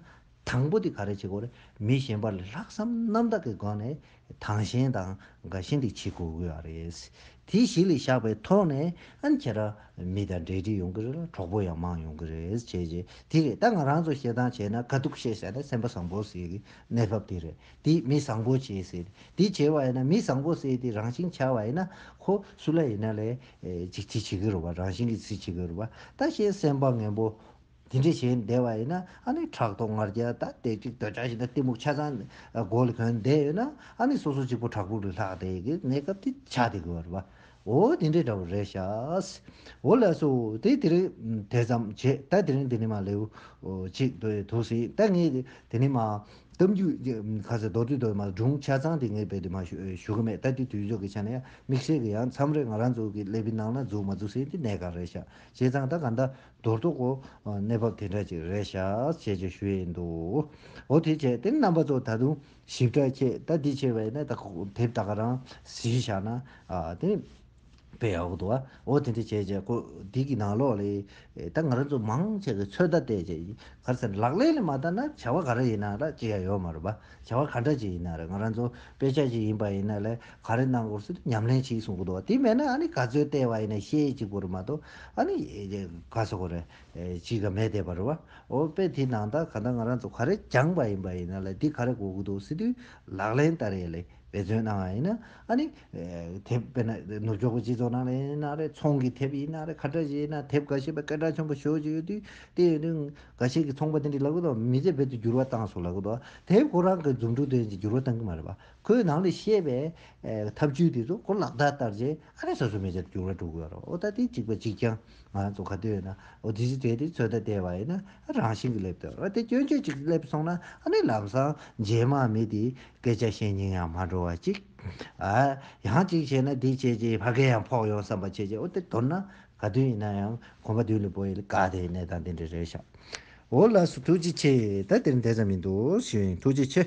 དང་པོ་འདི་ག་རེ་བྱེད་དགོས་རེད་མི་གཞན་པ་ལ་ལྷག་བསམ་རྣམ་དག་གི་སྒོ་ནས་དང་གཞན་དང་དགའ་གཞན་དུ་བྱེད་དགོས་གི་རེད། དེ་གཞི་ལས་བཞག་པའི་ཐོག་ནས་ཨན་ཁྱེད་རང་མི་དང་འབྲེལ་འདྲིས་ཡོང་གི་རེད་ལ་གྲོགས་པོ་ཡང་མང་ཡོང་གི་རེད་བྱས་རྗེས་དེ་རེད་ད་ང་རང་ཚོ་བཤད་སྟངས་བྱས་ན་དཀའ་སྡུག་བཤད་ཟེར་ན་སེམས་པ་བཟང་པོ་ཟེར་གི་གནས་བབ་དེ་རེད་དེ་མི་བཟང་པོ་བྱས་ཟེར་དེ་བྱས་བ་ཡིན་ན་མི་བཟང་པོ་ཟེར་དེ་རང་བཞིན་འཆལ་བ་ཡིན་ན་ཁོ་སུ་ལ་ཡིན་ན་ལས་ཅིག་ཅིག་བྱེད་གི་རུ་བ་རང་བཞིན་གྱི་ཚུལ་བྱེད་གི་རུ་བ་ད་གཞན་སེམས་པ་ངན་པོ། དེ་འདྲས་བྱས་བསྡད་པ་ཡིན་ན་ཨ་ནི་ཕྲག་དོག་ངར་རྒྱལ་ད་དེ་གཅིག་དོལ་ཆ་ཞིག་ད་གཏི་མུག་ཆ་ཚང་མགོ་ལ་གྱོན་བསྡད་ཡོད་ན་ཨ་ནི་སོ་སོ་གཅིག་པོ་བྲག་ཕུག་ལ་ལྷག་བསྡད་ཀྱི་གནས་སྐབས་དེ་ཆགས་བསྡད་དགོས་པ་རེད་པ། འོ་དེ་འདྲས་འདྲ་བོ་རེད་ཤགས། འོ་ལགས་སོ་དེ་དེ་རིང་དེ་ཙམ་བྱས་ད་དེ་རིང་དེ་ནི་མ་ལེའུ་གཅིག་འདོད་ཡོད་ཐུགས་ཟིན་ད་ངས་དེ་ནི་མ་གཏམ་རྒྱུད་ཁ་ཟས་མདོ་དུས་དོན་མ་སྒྲུང་ཆ་ཚང་དེ་ངས་བེད་དུ་མ་ཞུ་གི་མེད་ད་དེ་དུས་ཚོད་ཀྱི་ཆ་ནས་དམིགས་བསལ་གྱི་ཡང་མཚམས་རེ་ང་རང་ཚོ་གི་ཀླད་པའི་ནང་ན་འཛུགས་མ་འཛུགས་ཟིན་དེ་གནས་ག་རེ་ཤགས་བྱས་ཙང་ད་ག་འདྲ་མདོར་བསྡུ་གོ། གནས་བབ་དེ་འདྲ་ཅིག་རེད་ཤག་ཅེས་ཀྱི་ཞུ་ཡི་འདུག་འོ་དེ་བྱས་དེ་རྣམ་པ་ཚོ་ད་དུང་ཞིབ་ཕྲ་ཁྱེད་ད་འདི་ཆེ་བས་ནས་ད་དེབ་ད་ག་རང་གཟིགས་ཤག་ན་དེ་དཔེ་ཡག་པོ་འདུག་ཨོ་དེ་འདྲ་བྱས་ཀྱི་ཁོ་འདི་གི་ནང་ལོག་ལས་ད་ང་རང་ཚོ་མང་ཆེ་གི་ཚོད་ལྟ་བལྟས་ཀྱི་ཡིན་ག་རེ་ཟེར་ན་ལག་ལེན་ལས་མ་བལྟ་ན་བྱ་བ་ག་རེ་ཡིན་ན་ར་ཅི་ཡང་ཡོད་མ་རེད་པ་བྱ་བ་ག་འདྲ་ཅིག་ཡིན་ན་རེད་ང་རང་ཚོ་དཔེ་ཆ་ཞིག་ཡིན་པ་ཡིན་ན་ལས་ག་རེ་གནང་དགོས་སུ་ཉམས་ལེན་བྱས་གསུང་གི་འདུག་དེ་མེད་ན་ཨ་ནི་ག་ཚོད་བལྟས་བ་ཡིན་ན་ཤེས་ཅིག་པོ་རེད་མ་གཏོགས། ཨ་ནི་ག་ས་གོ་རེ་ཅི་ག་མེད་དེ་བར་བ་འོ་དཔེ་དེ་ནང་དང་ག་ད་ང་རང་ཚོ་ག་རེ་སྦྱངས་པ་ཡིན་པ་ཡིན་ན་ལ་དེ་ག་རེ་གོ་གི་འདུག་སི་ཏུའི་ལག་ལེན་ལྟར་ཡེ་ལེ་འབད་བརྩོན་གནང་བ་ཡིན་ན་ཨ་ནི་དེ་དཔེ་ན་ནུབ་ཕྱོགས་ཀྱི་སྤྱི་ཚོགས་ནང་ལ་ཡིན་ན་རེ་ཚོང་གི་དེབ་ཡིན་ན་རེ་ཁ་བྲལ་ཞིག་ཡིན་ན་དེབ་ག་ཤེས་པ་སྐད་གྲགས་ཆེན་པོ་ཤོས་ཅིག་ཡོད་དུས་དེ་ཡོད་དུས་ག་ཤེས་ཀྱི་ཚོང་པ་དེ་འདྲས་ལབ་གི་འདུག་མི་ཚེ་རྦད་དུ་འགྱུར་བ་བཏང་སོང་ལབ་གི་འདུག་དེབ་ཁོ་རང་གི་རྫུན་དྲུག་དོན་གྱི་འགྱུར་བ་བཏང་གི་མ་རེད་པ་ཁོས་ནང་ལས་བཤད་པའི་ཐབས་བྱུས་དེ་ཚོ་གོ་ལག་བརྡ་བསྟར་རྗེས་ཨ་རིའི་སོ་སོའི་མེ་ལྕེ་དུ་འགྱུར་བ་འགྲོ་གི་ཡོད་རེད་འོ་ད་དེ་གཅིག་པ་གཅིག་རྐྱང་ང་ཚོ་ག་དུས་ཡོད་ན་འོ་དེ་ཚོས་དེ་དེ་ཚོད་ལྟ་བསྡད་པ་ཡིན་ན་རང་བཞིན་གྱི་སླེབས་དོན་རེད་དེ་སྐྱོན་བརྗོད་ཅིག་སླེབས་སོང་ན་ཨ་ནི་ལམ་སང་རྗེས་དམག་མི་དེས་སྐད་ཆ་བཤད་སྙིང་ཡང་མ་འགྲོ་བ་གཅིག་ཨ་ཡང་གཅིག་བྱས་ན་དེ་བྱས་རྗེས་ཕ་གི་ཡང་ཕོག་ཡོང་བསམ་པ་བྱས་རྗེས་འོ་དེ་མདོར་ན་ག་དུས་ཡིན་ན་ཡང་གོམ་པ་བདུན་ལས་བོ་ཡིས་ལ་ག་དེའི་གནས་སྟངས་དེ་འདྲ་རེད་ཤག་འོ་ལགས་སུ་ཐུགས་རྗེ་ཆེ་ད་དེར་འདས་ཙམ་མི་འདུག་ཤིང་ཐུགས་རྗེ་ཆེ།